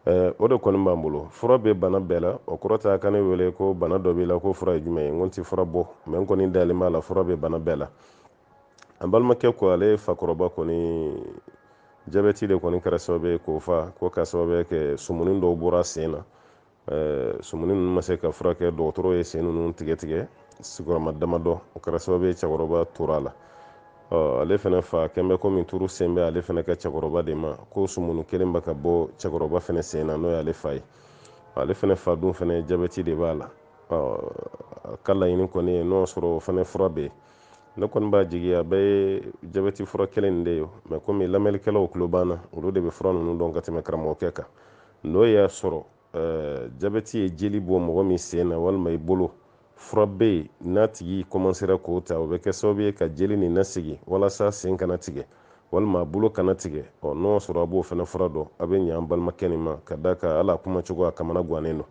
eh, o de kɔni b'an bolo fura bɛ bana bɛɛ la o kɔrɔ t'a ka ne wele ko bana dɔ b'i la ko fura ye jumɛn ye n ko n tɛ fura bɔ mɛ n kɔni dalen b'a la fura bɛ bana bɛɛ la an balimakɛ ko ale fakɔrɔba kɔni jabɛti de kɔni kɛra sababu ye k'o fa ko k'a sababu kɛ sumuni dɔw bɔra sen na sumuni ninnu ma se ka furakɛ dɔgɔtɔrɔ ye sen ninnu tigɛ tigɛ sigiyɔrɔma damadɔ o kɛra sababu ye cɛkɔrɔba tora a la ale fana fa quand même komi turu selen bɛ ale fana ka cɛkɔrɔba de ma ko sumuni kelen bɛ ka bɔ cɛkɔrɔba fana sen na n'o y'ale fa ye ale fana fa dun fana jabɛti de b'a la a ka laɲini kɔni ye n'o sɔrɔ o fana fura bɛ yen ne kɔni b'a jigi a bɛɛ ye jabɛti fura kelen de ye mɛ komi lamɛnnikɛlaw tulo b'an na olu de bɛ fura ninnu dɔn ka tɛmɛ karamɔgɔkɛ kan n'o y'a sɔrɔ eh, jabɛti ye jeli bɔ mɔgɔ min sen na walima i bolo fura bɛ yen n'a tigi kɔmansera k'o ta o bɛ kɛ sababu ye ka jeli nin nasigi walasa sen kana tigɛ walima a bolo kana tigɛ ɔ n'o y'a sɔrɔ a b'o fana fura dɔn a bɛ ɲɛ an balimakɛ nin ma ka d'a kan hali a kuma cogo a kamana gannen don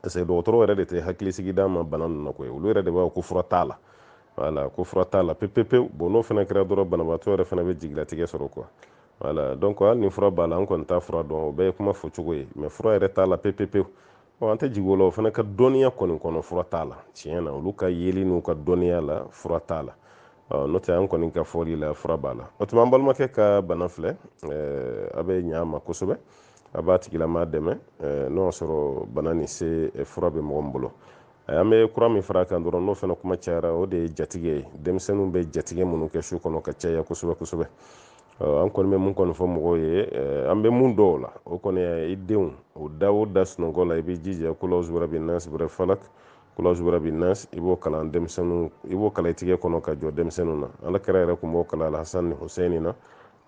parce que dɔgɔtɔrɔw yɛrɛ de tɛ hakilisigi d'a ma bana ninnu na koyi olu yɛrɛ de b'a fɔ ko fura t'a la wala ko fura t'a la pepepewu bɔn n'o fana kɛra dɔrɔn banabaatɔ yɛrɛ fana bɛ jigilatigɛ sɔrɔ kuwa wala donc hali ni fura b'a la an kɔni t'a fura dɔn o bɛɛ ye kuma fɔ cogo ye mɛ fura yɛrɛ t'a la pepepewu an tɛ jigi o la o fana ka dɔnniya kɔni kɔnɔ fura t'a la tiɲɛ na olu ka yeli n'u ka dɔnniya la fura t'a la n'o tɛ an kɔni ka fɔli la fura b'a la o tuma an balimakɛ ka bana filɛ a bɛ ɲɛ a ma kosɛbɛ a b'a tigilama dɛmɛ n'o y'a sɔrɔ bana nin se fura bɛ mɔgɔ min bolo an bɛ kura min fara a kan dɔrɔn n'o fana kuma cayara o de ye jatigɛ ye denmisɛnninw bɛ jatigɛ minnu kɛ su kɔnɔ ka caya kosɛbɛ kosɛbɛ an kɔni bɛ mun kɔni fɔ mɔgɔw ye an bɛ mun dɔn o la o kɔni i denw o da o da sunɔgɔ la i bɛ jija kul awuzu birabbin nas birabbil falak kul awuzu birabbin nas i b'o kalan denmisɛnninw i b'o kalan i tigɛ kɔnɔ k'a jɔ denmisɛnninw na ala kira yɛrɛ tun b'o kalan alhasan ni husɛni na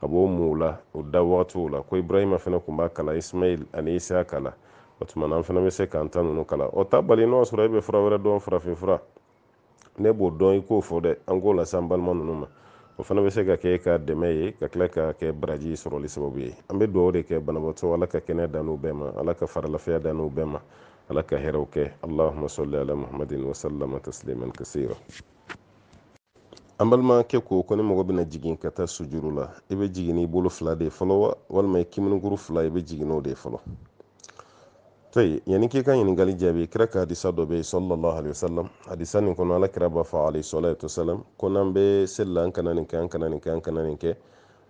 k'a b'o mun u la u da wagatiw la ko ibrahima fana tun b'a kalan ismail ani isaka la o tuma na an fana bɛ se k'an ta ninnu kalan o t'a bali n'o sɔrɔ e bɛ fura wɛrɛ dɔn farafinfura ne b'o dɔn i k'o fɔ dɛ an k'o lase an balima ninnu ma o fana bɛ se ka kɛ ka dɛmɛ ye ka tila ka kɛ baraji sɔrɔli sababu ye an bɛ dugawu de kɛ banabaatɔ ala ka kɛnɛya d'an n'u bɛɛ ma ala ka farilafiya d'an n'u bɛɛ ma ala ka hɛrɛw kɛ allahuma salli ala muhammadin wasalama tasliman kasira an balimakɛ ko ko ni mɔgɔ bɛna jigin ka taa sujuru la i bɛ jigin n'i bolo fila de fɔlɔ wa walima i kiminikuru fila i bɛ jigin n'o de fɔlɔ tayib yanni k'i ka ɲininkali jaabi kira ka hadisa dɔ bɛ yen sallallahu alaihi wasallam hadisa nin kɔnɔ ala kira b'a fɔ alayhi salatu wasalam ko n'an bɛ seli la an kana nin kɛ an kana nin kɛ an kana nin kɛ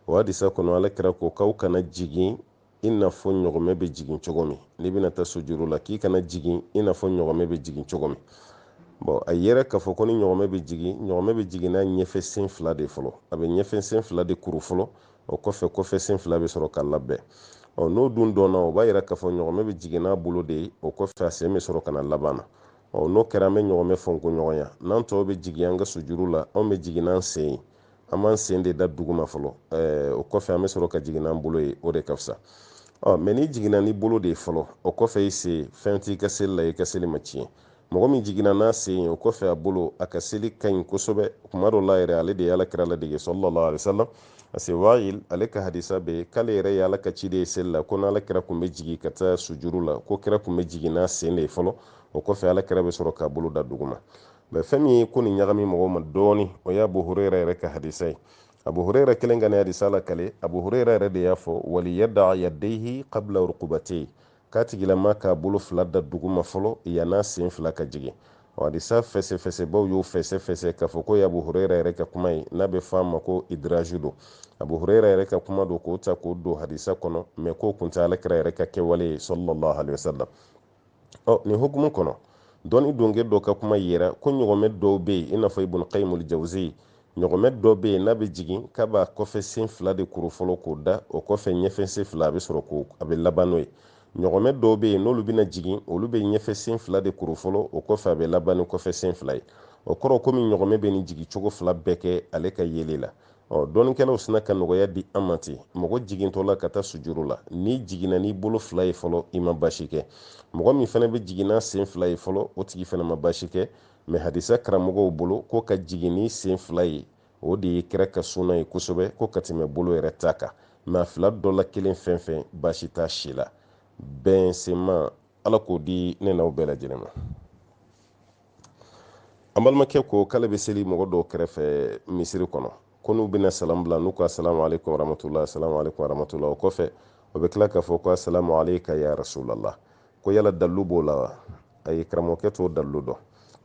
o hadisa kɔnɔ ala kira ko k'aw kana jigin i n'a fɔ ɲɔgɔmɛ bɛ jigin cogo min n'i bɛna taa sujuru la k'i kana jigin i n'a fɔ ɲɔgɔmɛ bɛ jigin cogo min bɔn a yera k'a fɔ ko ni ɲɔgɔmɛ bɛ jigin ɲɔgɔmɛ bɛ jigin n'a ɲɛfɛ sen fila de fɔlɔ a bɛ ɲɛfɛ sen fila de kuru fɔlɔ o kɔfɛ kɔfɛ sen fila bɛ sɔrɔ ka laban ɔ n'o dun dɔnna o b'a yira k'a fɔ ɲɔgɔmɛ bɛ jigin n'a bolo de ye o kɔfɛ a sen bɛ sɔrɔ ka na laban na ɔ n'o kɛra an bɛ ɲɔgɔmɛ fɔnko ɲɔgɔnya n'an tɔw bɛ jigin an ka sujuru la anw bɛ jigin n'an sen ye an b'an sen de da duguma fɔlɔ eh, o kɔfɛ an bɛ sɔrɔ ka jigin n'an bolo ye o de ka fisa ɔ mɛ n'i jiginna n'i bolo de ye fɔlɔ o kɔfɛ i sen fɛn t'i ka seli la i ka seli ma tiɲɛ mɔgɔ min jiginna n'a sen ye o kɔfɛ a bolo a ka seli ka ɲi kosɛbɛ kuma dɔ la yɛrɛ ale de ye ala kira ladege sallallahu alaihi wasallam parce que wayil ale ka hadisa bɛ k'ale yɛrɛ ye ala ka ciden ye seli la ko n'ala kira tun bɛ jigin ka taa sujuru la ko kira tun bɛ jigin n'a sen de ye fɔlɔ o kɔfɛ ala kira bɛ sɔrɔ k'a bolo da duguma mɛ fɛn min ye ko nin ɲagami mɔgɔw ma dɔɔni o ye abu hurera yɛrɛ ka hadisa ye abu hurera kelen ka nin hadisa lakali abu hurera yɛrɛ de y'a fɔ waliyada yadaihi kabla rukubatei k'a tigilama k'a bolo fila da duguma fɔlɔ yann'a sen fila ka jigin o hadisa fɛsɛfɛsɛbaw y'o fɛsɛfɛsɛ k'a fɔ k'o ye abu hurera yɛrɛ ka kuma ye n'a bɛ fɔ a ma ko idraju don abu hurera yɛrɛ ka kuma don k'o ta k'o don hadisa kɔnɔ mɛ k'o kɔni tɛ ala kira yɛrɛ ka kɛwale ye sallallahu alaihi wasallam ɔ nin hukumu kɔnɔ dɔnni donke dɔ ka kuma yera ko ɲɔgɔmɛ dɔw bɛ yen i n'a fɔ ibun kayimul jawuziya ɲɔgɔmɛ dɔ bɛ yen n'a bɛ jigin k'a b'a kɔfɛ sen fila de kuru fɔlɔ k'o da o kɔfɛ ɲɛfɛ sen fila a bɛ sɔrɔ k'o a bɛ laban n'o ye ɲɔgɔmɛ dɔw bɛ yen n'olu bɛna jigin olu bɛ ɲɛfɛ sen fila de kuru fɔlɔ o kɔfɛ a bɛ laban ni kɔfɛ sen fila ye o kɔrɔ komi ɲɔgɔmɛ bɛ nin jigin cogo fila bɛɛ kɛ ale ka yeli la ɔ dɔnnikɛlaw sina ka nɔgɔya di an ma ten mɔgɔ jigintɔ la ka taa sujuru la n'i jiginna n'i bolo fila ye fɔlɔ i ma basi kɛ mɔgɔ min fana bɛ jigin n'a sen fila ye fɔlɔ o tigi fana ma basi kɛ mɛ hadisa karamɔgɔw bolo ko ka jigin ni sen fila ye o de ye kira ka sunna ye kosɛbɛ ko ka tɛmɛ bolo yɛrɛ ta kan mɛ a fila dɔ la kelen fɛn fɛn basi t'a si la bɛn sunna ma ala k'o di ne n'aw bɛɛ lajɛlen ma an balimakɛ ko k'ale bɛ seli mɔgɔ dɔw kɛrɛfɛ misiri kɔnɔ ko n'u bɛna salamu bila n'u ko asalamu aleykum warahmatulahi asalamu aleykum warahmatulahi o kɔfɛ o bɛ tila k'a fɔ ko asalamu aleyka ya rasulallah ko yala dalilu b'o la wa ayi karamɔgɔkɛ t'o dalilu dɔn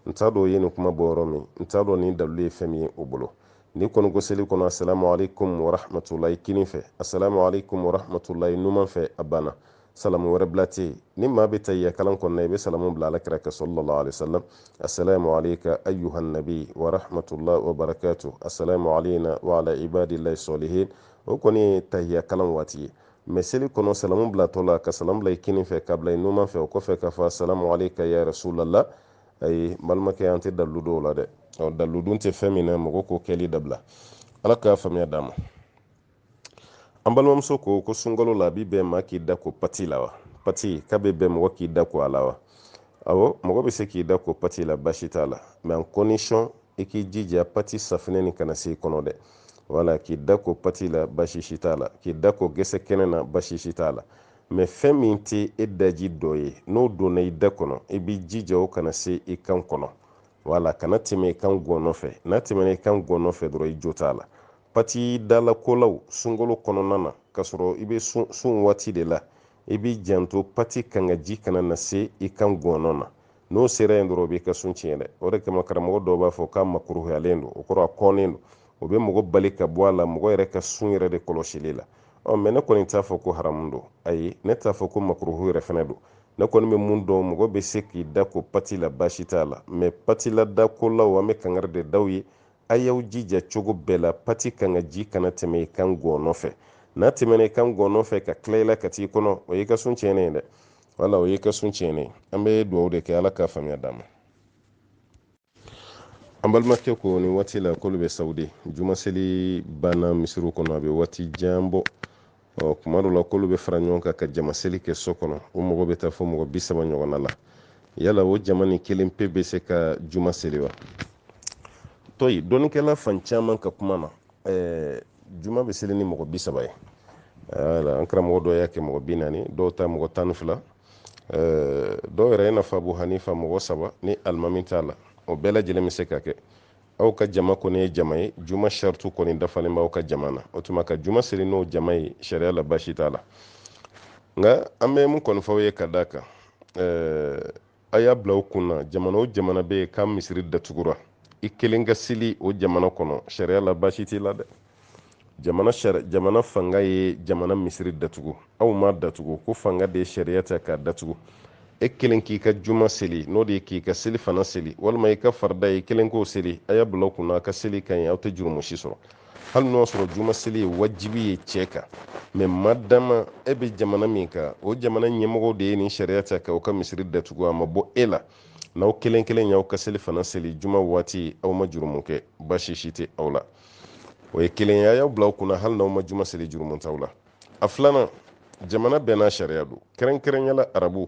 n t'a dɔn o ye nin kuma bɔ yɔrɔ min n t'a dɔn nin dalilu ye fɛn min ye o bolo n'i kɔni ko seli kɔnɔ asalamu aleykum warahmatulahi kinin fɛ asalamu aleykum warahmatulahi numan fɛ a banna salamu wɛrɛ bila tɛ yen ni maa bɛ tahiyya kalan kɔnɔna i bɛ salamu bila ala kira kan sallallahu alaihi wasallam assalamu alayka ayyuhan nabi wa rahmatullahi wa barakatuh assalamu alayna wa ala ibadillahi salihin o kɔni ye tahiyya kalan waati ye mɛ seli kɔnɔ salamu bilatɔ la ka salamu bila i kinin fɛ k'a bila i numan fɛ o kɔfɛ k'a fɔ assalamu alayka ya rasulallah ayi balimakɛ an tɛ dalilu dɔn o la dɛ ɔ dalilu dun tɛ fɛn min na mɔgɔ k'o kɛli dabila ala k'a faamuya d'a ma an balimamuso ko ko sunkalo la a bɛ bɛn maa k'i da ko pati la wa pati k'a bɛ bɛn mɔgɔ k'i da ko a la wa awɔ mɔgɔ bɛ se k'i da ko pati la basi t'a la mɛ en condition i k'i jija pati safinɛ nin kana se i kɔnɔ dɛ wala k'i da ko pati la basi si t'a la k'i da ko gɛsɛ kɛnɛ na basi si t'a la mɛ fɛn min tɛ e daji dɔ ye n'o donna i da kɔnɔ i b'i jija o kana se i kan kɔnɔ wala kana tɛmɛ i kan gɔnɔ fɛ n'a tɛmɛna i kan gɔnɔ fɛ dɔrɔn i jo t'a la pati dalakolaw sunkalo kɔnɔna na k'a sɔrɔ i bɛ sun waati de la i b'i janto pati kangaji kana na se i kan gɔnɔ na n'o sera yen dɔrɔn o b'i ka sun tiɲɛ dɛ o de kama karamɔgɔ dɔw b'a fɔ k'a makuruhuyalen don o kɔrɔ a kɔnnen don o bɛ mɔgɔ bali ka bɔ a la mɔgɔ yɛrɛ ka sun yɛrɛ de kɔlɔsili la ɔ mɛ ne kɔni t'a fɔ ko haramu don ayi ne t'a fɔ ko makuruhu yɛrɛ fɛnɛ don ne kɔni bɛ min dɔn mɔgɔ bɛ se k'i da ko pati la baasi t'a la mɛ pati la dakolaw an bɛ kangari de d'aw ye a y'aw jija cogo bɛɛ la pati kangaji kana tɛmɛ i kan gɔɔnɔ fɛ n'a tɛmɛna i kan gɔɔnɔ fɛ ka tila i la ka t'i kɔnɔ o y'i ka sun tiɲɛnen ye dɛ wala o y'i ka sun tiɲɛnen ye an bɛ dugawu de kɛ ala k'a faamuya d'a ma an balimakɛ ko nin waati la k'olu bɛ sawudi jumaseli banna misiriw kɔnɔ a bɛ waati jan bɔ ɔ kuma dɔ la k'olu bɛ fara ɲɔgɔn kan ka jama seli kɛ so kɔnɔ u mɔgɔ bɛ taa fo mɔgɔ bi saba ɲɔgɔnna la yala o jama nin kelen pe bɛ se ka juma seli wa tɔyi dɔnnikɛla fan caman ka kuma na ɛɛ juma bɛ seli ni mɔgɔ bi saba ye wala an karamɔgɔ dɔw y'a kɛ mɔgɔ bi naani dɔw ta mɔgɔ tan ni fila dɔw yɛrɛ i n'a fɔ abu hanifa mɔgɔ saba ni alimami t'a la o bɛɛ lajɛlen bɛ se ka kɛ aw ka jama kɔni ye jama ye juma shartu kɔni dafalen b'aw ka jama na o tuma ka juma seli n'o jama ye sariya la baasi t'a la nka an bɛ mun kɔni fɔ aw ye ka d'a kan ɛɛ a y'a bila aw kun na jamana o jamana bɛ yen k'a misiri datugura i kelen ka seli o jamana kɔnɔ sariya la baasi t'i la dɛ jamana jamana fanga ye jamana misiri datugu aw ma datugu ko fanga de ye sariya ta k'a datugu e kelen k'i ka juma seli n'o de ye k'i ka selifana seli walima i ka farida e kelen k'o seli a y'a bila kunna a ka seli ka ɲi aw tɛ jurumu si sɔrɔ hali n'o y'a sɔrɔ juma seli ye wajibi ye cɛ kan mɛ madama e bɛ jamana min kan o jamana ɲɛmɔgɔw de ye nin sariya ta ko u ka misiri datugu a ma bɔ e la n'aw kelen kelen y'aw ka selifana seli juma waati aw ma jurumu kɛ baasi si tɛ aw la o ye kelen ye a y'a bila aw kunna hali n'aw ma juma seli jurumu t'aw la a filanan jamana bɛɛ n'a sariya don kɛrɛnkɛrɛnya la arabu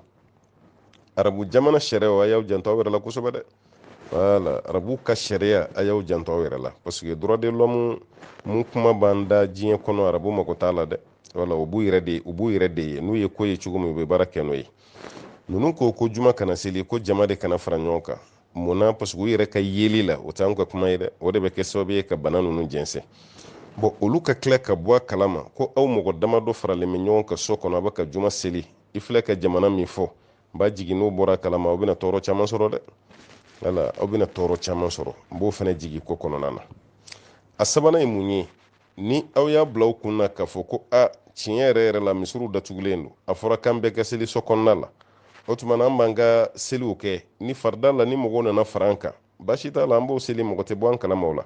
arabu jamana sariyaw a y'aw janto aw yɛrɛ la kosɛbɛ dɛ wala arabu ka sariya a y'aw janto aw yɛrɛ la parce que droit de l'homme min kuma b'an da diɲɛ kɔnɔ arabu mako t'a la dɛ wala u b'u yɛrɛ de u b'u yɛrɛ de ye n'u ye ko ye cogo min u bɛ baara kɛ n'o ye ninnu ko ko juma kana seli ko jama de kana fara ɲɔgɔn kan mun na parce que u yɛrɛ ka yeli la o t'an ka kuma ye dɛ o de bɛ kɛ sababu ye ka bana ninnu jɛnsɛn bon olu ka tila ka bɔ a kalama ko aw mɔgɔ damadɔ faralen bɛ ɲɔgɔn kan so kɔnɔ a bɛ ka juma seli i filɛ ka jamana min fɔ n b'a jigi n'o bɔra a kalama aw bɛna tɔɔrɔ caman sɔrɔ dɛ wala aw bɛna tɔɔrɔ caman sɔrɔ n b'o fana jigi ko kɔnɔna na a sabanan ye mun ye ni aw y'a bila aw kun na k'a fɔ ko a tiɲɛ yɛrɛ yɛrɛ la misiriw datugulen don a fɔra k'an bɛɛ ka seli so kɔnɔna la o tuma na an b'an ka seliw kɛ ni farida la ni mɔgɔw nana fara an kan baasi t'a la an b'o seli mɔgɔ tɛ bɔ an kalama o la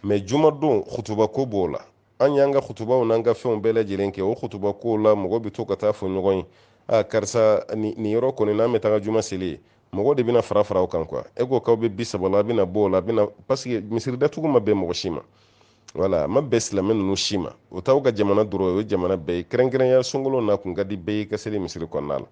mɛ jumadon kutuba ko b'o la an y'an ka kutubaw n'an ka fɛnw bɛɛ lajɛlen kɛ o kutuba ko la mɔgɔ bɛ to ka taa fɔ ɲɔgɔn ye a karisa nin yɔrɔ kɔni n'an bɛ taga juma seli yen mɔgɔ de bɛna fara fara aw kan quoi e ko k'aw bɛ bi saba la a bɛna bɔ o la a bɛna parce que misiri datugu ma bɛn mɔgɔ si ma wala a ma bɛn silamɛ ninnu si ma o t'aw ka jamana dɔrɔn o ye jamana bɛɛ ye kɛrɛnkɛrɛnya sunkalo n'a kun ka di bɛɛ ye ka seli misiri kɔnɔna la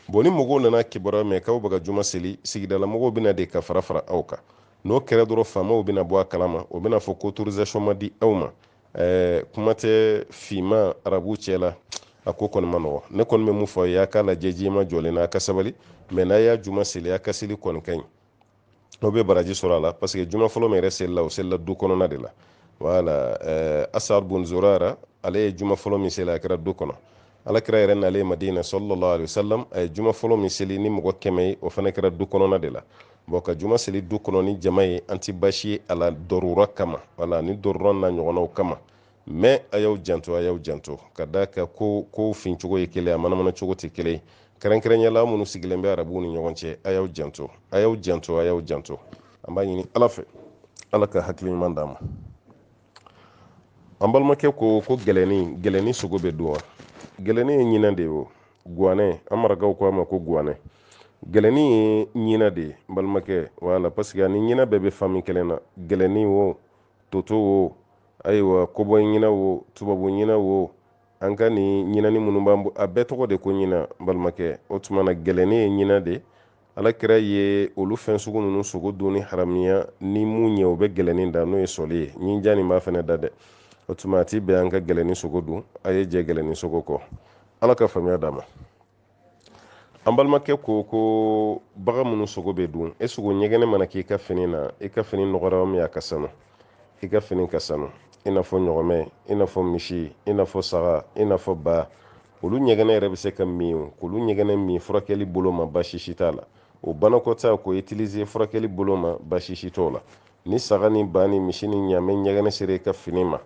bon ni mɔgɔw nana kibaruya mɛn k'aw bɛ ka juma seli sigida la mɔgɔw bɛ na de ka fara fara aw kan n'o kɛra dɔrɔn faamaw bɛna bɔ a kalama o bɛna fɔ ko autorisation ma di aw ma ɛɛ kuma tɛ finma arabu cɛ la a ko kɔni ma nɔgɔ ne kɔni bɛ mun fɔ a ye a k'a lajɛ juma jɔlen na a ka sabali mɛ n'a y'a juma seli a ka seli kɔni ka ɲi aw bɛ baraji sɔrɔ a la parce que juma fɔlɔ min yɛrɛ selila o selila du kɔnɔna de la wala eh, asad bun zurara ale ye juma fɔlɔ min seli a kɛra du kɔnɔ ala kira yɛrɛ nalen madina sallallahu alaihi wasallam a ye juma fɔlɔ min seli ni mɔgɔ kɛmɛ ye o fana kɛra du kɔnɔna de la bon ka juma seli du kɔnɔ ni jama ye an ti baasi ye a la dɔrura kama wala ni dɔrura n'a ɲɔgɔnnaw kama mais a y'aw janto a y'aw janto ka d'a kan ko ko fin cogo ye kelen a manamana cogo tɛ kelen kɛrɛnkɛrɛnya la minnu sigilen bɛ arabuw ni ɲɔgɔn cɛ a y'aw janto a y'aw janto a y'aw janto an b'a ɲini ala fɛ ala ka hakili ɲuman d'an ma an balimakɛ ko ko gɛlɛnni gɛlɛnni sogo bɛ dun wa gɛlɛnni ye ɲinɛ de ye o guwanɛ an marakaw ko a ma ko guwanɛ gɛlɛnni ye ɲinɛ de ye n balimakɛ voilà parce que ani ɲinɛ bɛɛ bɛ famille kelen na gɛlɛnni wo toto wo ayiwa cobaye ɲinɛ wo tubabu ɲinɛ wo an ka nin ɲinani minnu b'an bo a bɛɛ tɔgɔ de ko ɲinɛ balimakɛ o tuma na gɛlɛnni ye ɲinɛ de ala kira ye olu fɛn sugu ninnu sogo dunni haramiya ni mun ye o bɛ gɛlɛnni da n'o ye sɔli ye ɲinjan nin b'a fɛnɛ da dɛ o tuma a ti bɛn an ka gɛlɛnni sogo dun a ye jɛ gɛlɛnni sogo kɔ ala ka faamuya d'an ma an balimakɛ ko ko bagan minnu sogo bɛ dun e sogo ɲɛgɛnɛ mana k'i ka fini na i ka fini nɔgɔra min a ka sanu i ka fini ka sanu i n'a fɔ ɲɔgɔmɛ i n'a fɔ misi i n'a fɔ saga i n'a fɔ ba olu ɲɛgɛnɛ yɛrɛ bɛ se ka min k'olu ɲɛgɛnɛ min furakɛli bolo ma baasi si t'a la o banakɔtaa k'o utiliser furakɛli bolo ma baasi si t'o la ni saga ni ba ni misi ni ɲaamɛ ɲɛgɛnɛ sera i ka fini ma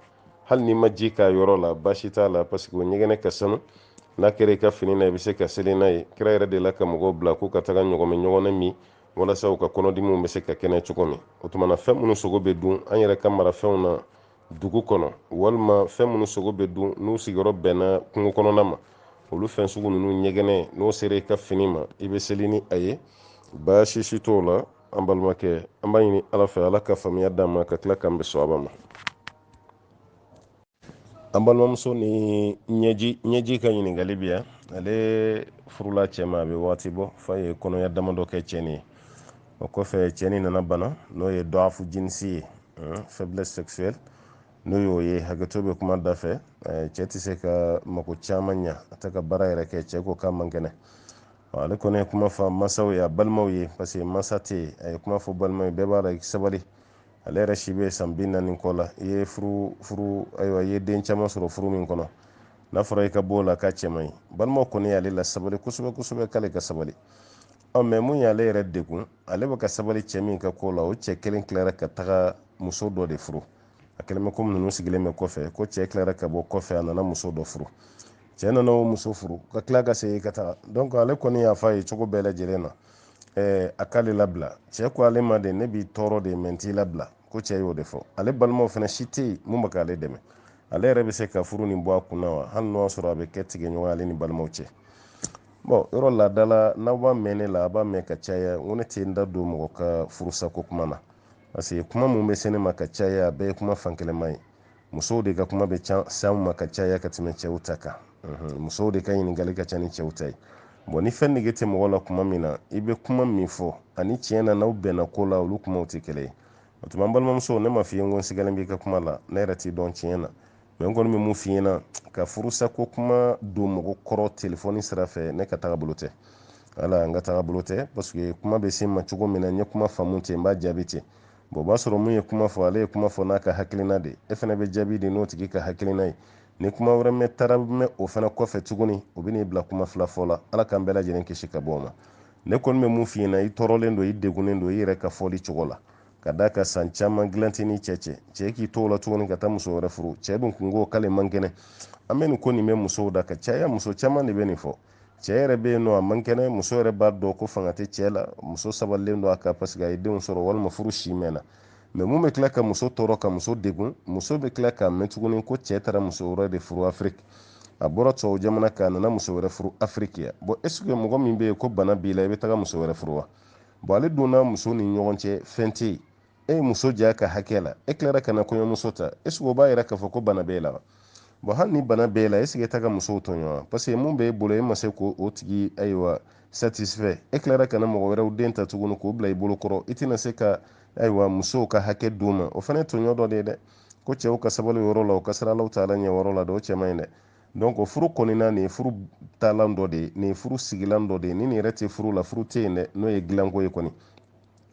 hali n'i ma ji k'a yɔrɔ la baasi t'a la parce que o ɲɛgɛnɛ ka sanu n'a kɛra i ka fini na i bɛ se ka seli n'a ye kira yɛrɛ delila ka mɔgɔw bila k'u ka taga ɲɔgɔmɛ ɲɛgɛnɛ min walasa u ka kɔnɔdimiw bɛ se ka kɛnɛya cogo min o tuma na fɛn minnu sogo bɛ dun an yɛrɛ ka marafɛnw na dugu kɔnɔ walima fɛn minnu sogo bɛ dun n'u sigiyɔrɔ bɛnna kungo kɔnɔna ma olu fɛn sugu ninnu ɲɛgɛnɛ n'o sera i ka fini ma i bɛ seli ni a ye baasi si t'o la an balimakɛ an b'a ɲini ala fɛ ala ka faamuya d'an ma ka tila k'an bɛn soaba ma an balimamuso nin ɲɛji ɲɛji ka ɲininkali bi yan ale furula cɛ ma a bɛ waati bɔ f'a ye kɔnɔya damadɔ kɛ cɛ nin ye o kɔfɛ cɛ nin nana bana n'o ye dɔafu jinisi ye faiblesse sexuelle n'o y'o ye hakɛto bɛ kuma da fɛ cɛ tɛ se ka mako caman ɲa a tɛ ka baara yɛrɛ kɛ cɛ ko k'a man kɛnɛ ale kɔni ye kuma fɔ masaw ye a balimaw ye parce que masa tɛ yen a ye kuma fɔ balimaw ye bɛɛ b'a la i sabali ale yɛrɛ si bɛ san bi naani kɔ la i ye furu furu ayiwa i ye den caman sɔrɔ furu min kɔnɔ n'a fɔra i ka bɔ o la k'a cɛ man ɲi balimaw kɔni y'ale lasabali kosɛbɛ kosɛbɛ k'ale ka sabali ɔ mais mun y'ale yɛrɛ degun ale bɛ ka sabali cɛ min ka ko la o cɛ kelen tilara ka taga muso dɔ de furu a kɛlen bɛ comme ninnu sigilen bɛ kɔfɛ ko cɛ tilara ka bɔ kɔfɛ a nana muso dɔ furu cɛ nana o muso furu ka tila ka segin ka taga donc ale kɔni y'a fɔ a ye cogo bɛɛ lajɛlen na eh, a k'ale labila cɛ ko ale ma de ne b'i tɔɔrɔ de mais n t'i labila ko cɛ y'o de fɔ ale balimaw fana si tɛ yen mun bɛ k'ale dɛmɛ ale yɛrɛ bɛ se ka furu nin bɔ a kun na wa hali n'o y'a sɔrɔ a bɛ kɛ tigɛɲɔgɔn ale ni balimaw cɛ bon yɔrɔ laada la n'aw b'a mɛn ne la a b'a mɛn ka caya n ko ne tɛ n da don mɔgɔ ka furusako kuma na parce que kuma mun bɛ se ne ma ka caya a bɛɛ ye kuma fankelenma ye musow de ka kuma bɛ s'anw ma ka caya ka tɛmɛ cɛw ta kan mhm. musow de ka ɲininkali ka ca ni cɛw ta ye bɔn ni fɛn nege tɛ mɔgɔ la kuma min na i bɛ kuma min fɔ ani tiɲɛ na n'aw bɛnna ko la olu kumaw tɛ kelen ye o tuma n balimamuso ne ma f'i ye n ko n sigalen b'i ka kuma la ne yɛrɛ t'i dɔn tiɲɛ na mɛ n kɔni bɛ mun f'i ɲɛna ka furusa ko kuma don mɔgɔ kɔrɔ telefɔni sira fɛ ne ka taga bolo tɛ ala n ka taga bolo tɛ paseke kuma bɛ se n ma cogo min na n ye kuma faamu ten n b'a jaabi ten o b'a sɔrɔ mun ye kuma fɔ ale ye kuma fɔ n'a ka hakilina de e fana bɛ jaabi di n'o tigi ka hakilina ye ni kuma wɛrɛ mɛ taara mɛn o fana kɔfɛ tuguni o bɛn'i bila kuma fila fɔ la ala k'an bɛɛ lajɛlen kisi ka bɔ o ma ne kɔni bɛ mun f'i ɲɛna i tɔɔrɔlen don i degunnen don i yɛrɛ ka fɔli cogo la ka d'a kan san caman gilan t'i ni cɛ cɛ cɛ k'i t'o la tuguni ka taa muso wɛrɛ furu cɛ dun kun ko k'ale man kɛnɛ an bɛ nin ko nin bɛ musow da ka caya muso caman de bɛ nin fɔ cɛ yɛrɛ bɛ yen nɔ a man kɛnɛ muso yɛrɛ b'a dɔn ko fanga tɛ cɛ la muso sabalilen don a kan paseke a ye denw sɔrɔ walima furu si mɛnna mɛ mun bɛ tila ka muso tɔɔrɔ ka muso degun muso bɛ tila k'a mɛn tuguni ko cɛ taara muso wɛrɛ de furu afiriki a bɔra tubabu jamana kan a nana muso wɛrɛ furu afiriki yan bɔn esike mɔgɔ min bɛ yen ko bana b'i la i bɛ taga muso wɛrɛ furu wa bɔn ale donna muso ni ɲɔgɔn cɛ fɛn tɛ yen e ye muso j'a ka hakɛ la e tilara ka na kɔɲɔmuso ta eseke o b'a yira k'a fɔ ko bana b'e la bɔn hali ni bana b'e la eseke e taga musow tɔɲɔ wa paseke mun b'e bolo e ma se k'o tigi ayiwa satisfɛ e tilara ka na mɔgɔ wɛrɛw den ta tuguni k'o bila i bolo kɔrɔ i tɛna se ka ayiwa musow ka hakɛ d'u ma o fana ye tɔɲɔ dɔ de ye dɛ ko cɛw ka sabali o yɔrɔ la o ka siran alahu taala ɲɛ o yɔrɔ la dɛ o cɛ man ɲi dɛ donc o furu kɔnɔna nin ye furu taalan dɔ de ye nin ye furu sigilan dɔ de ye ni nin yɛrɛ tɛ furu la furu tɛ yen dɛ n'o ye dilanko ye kɔni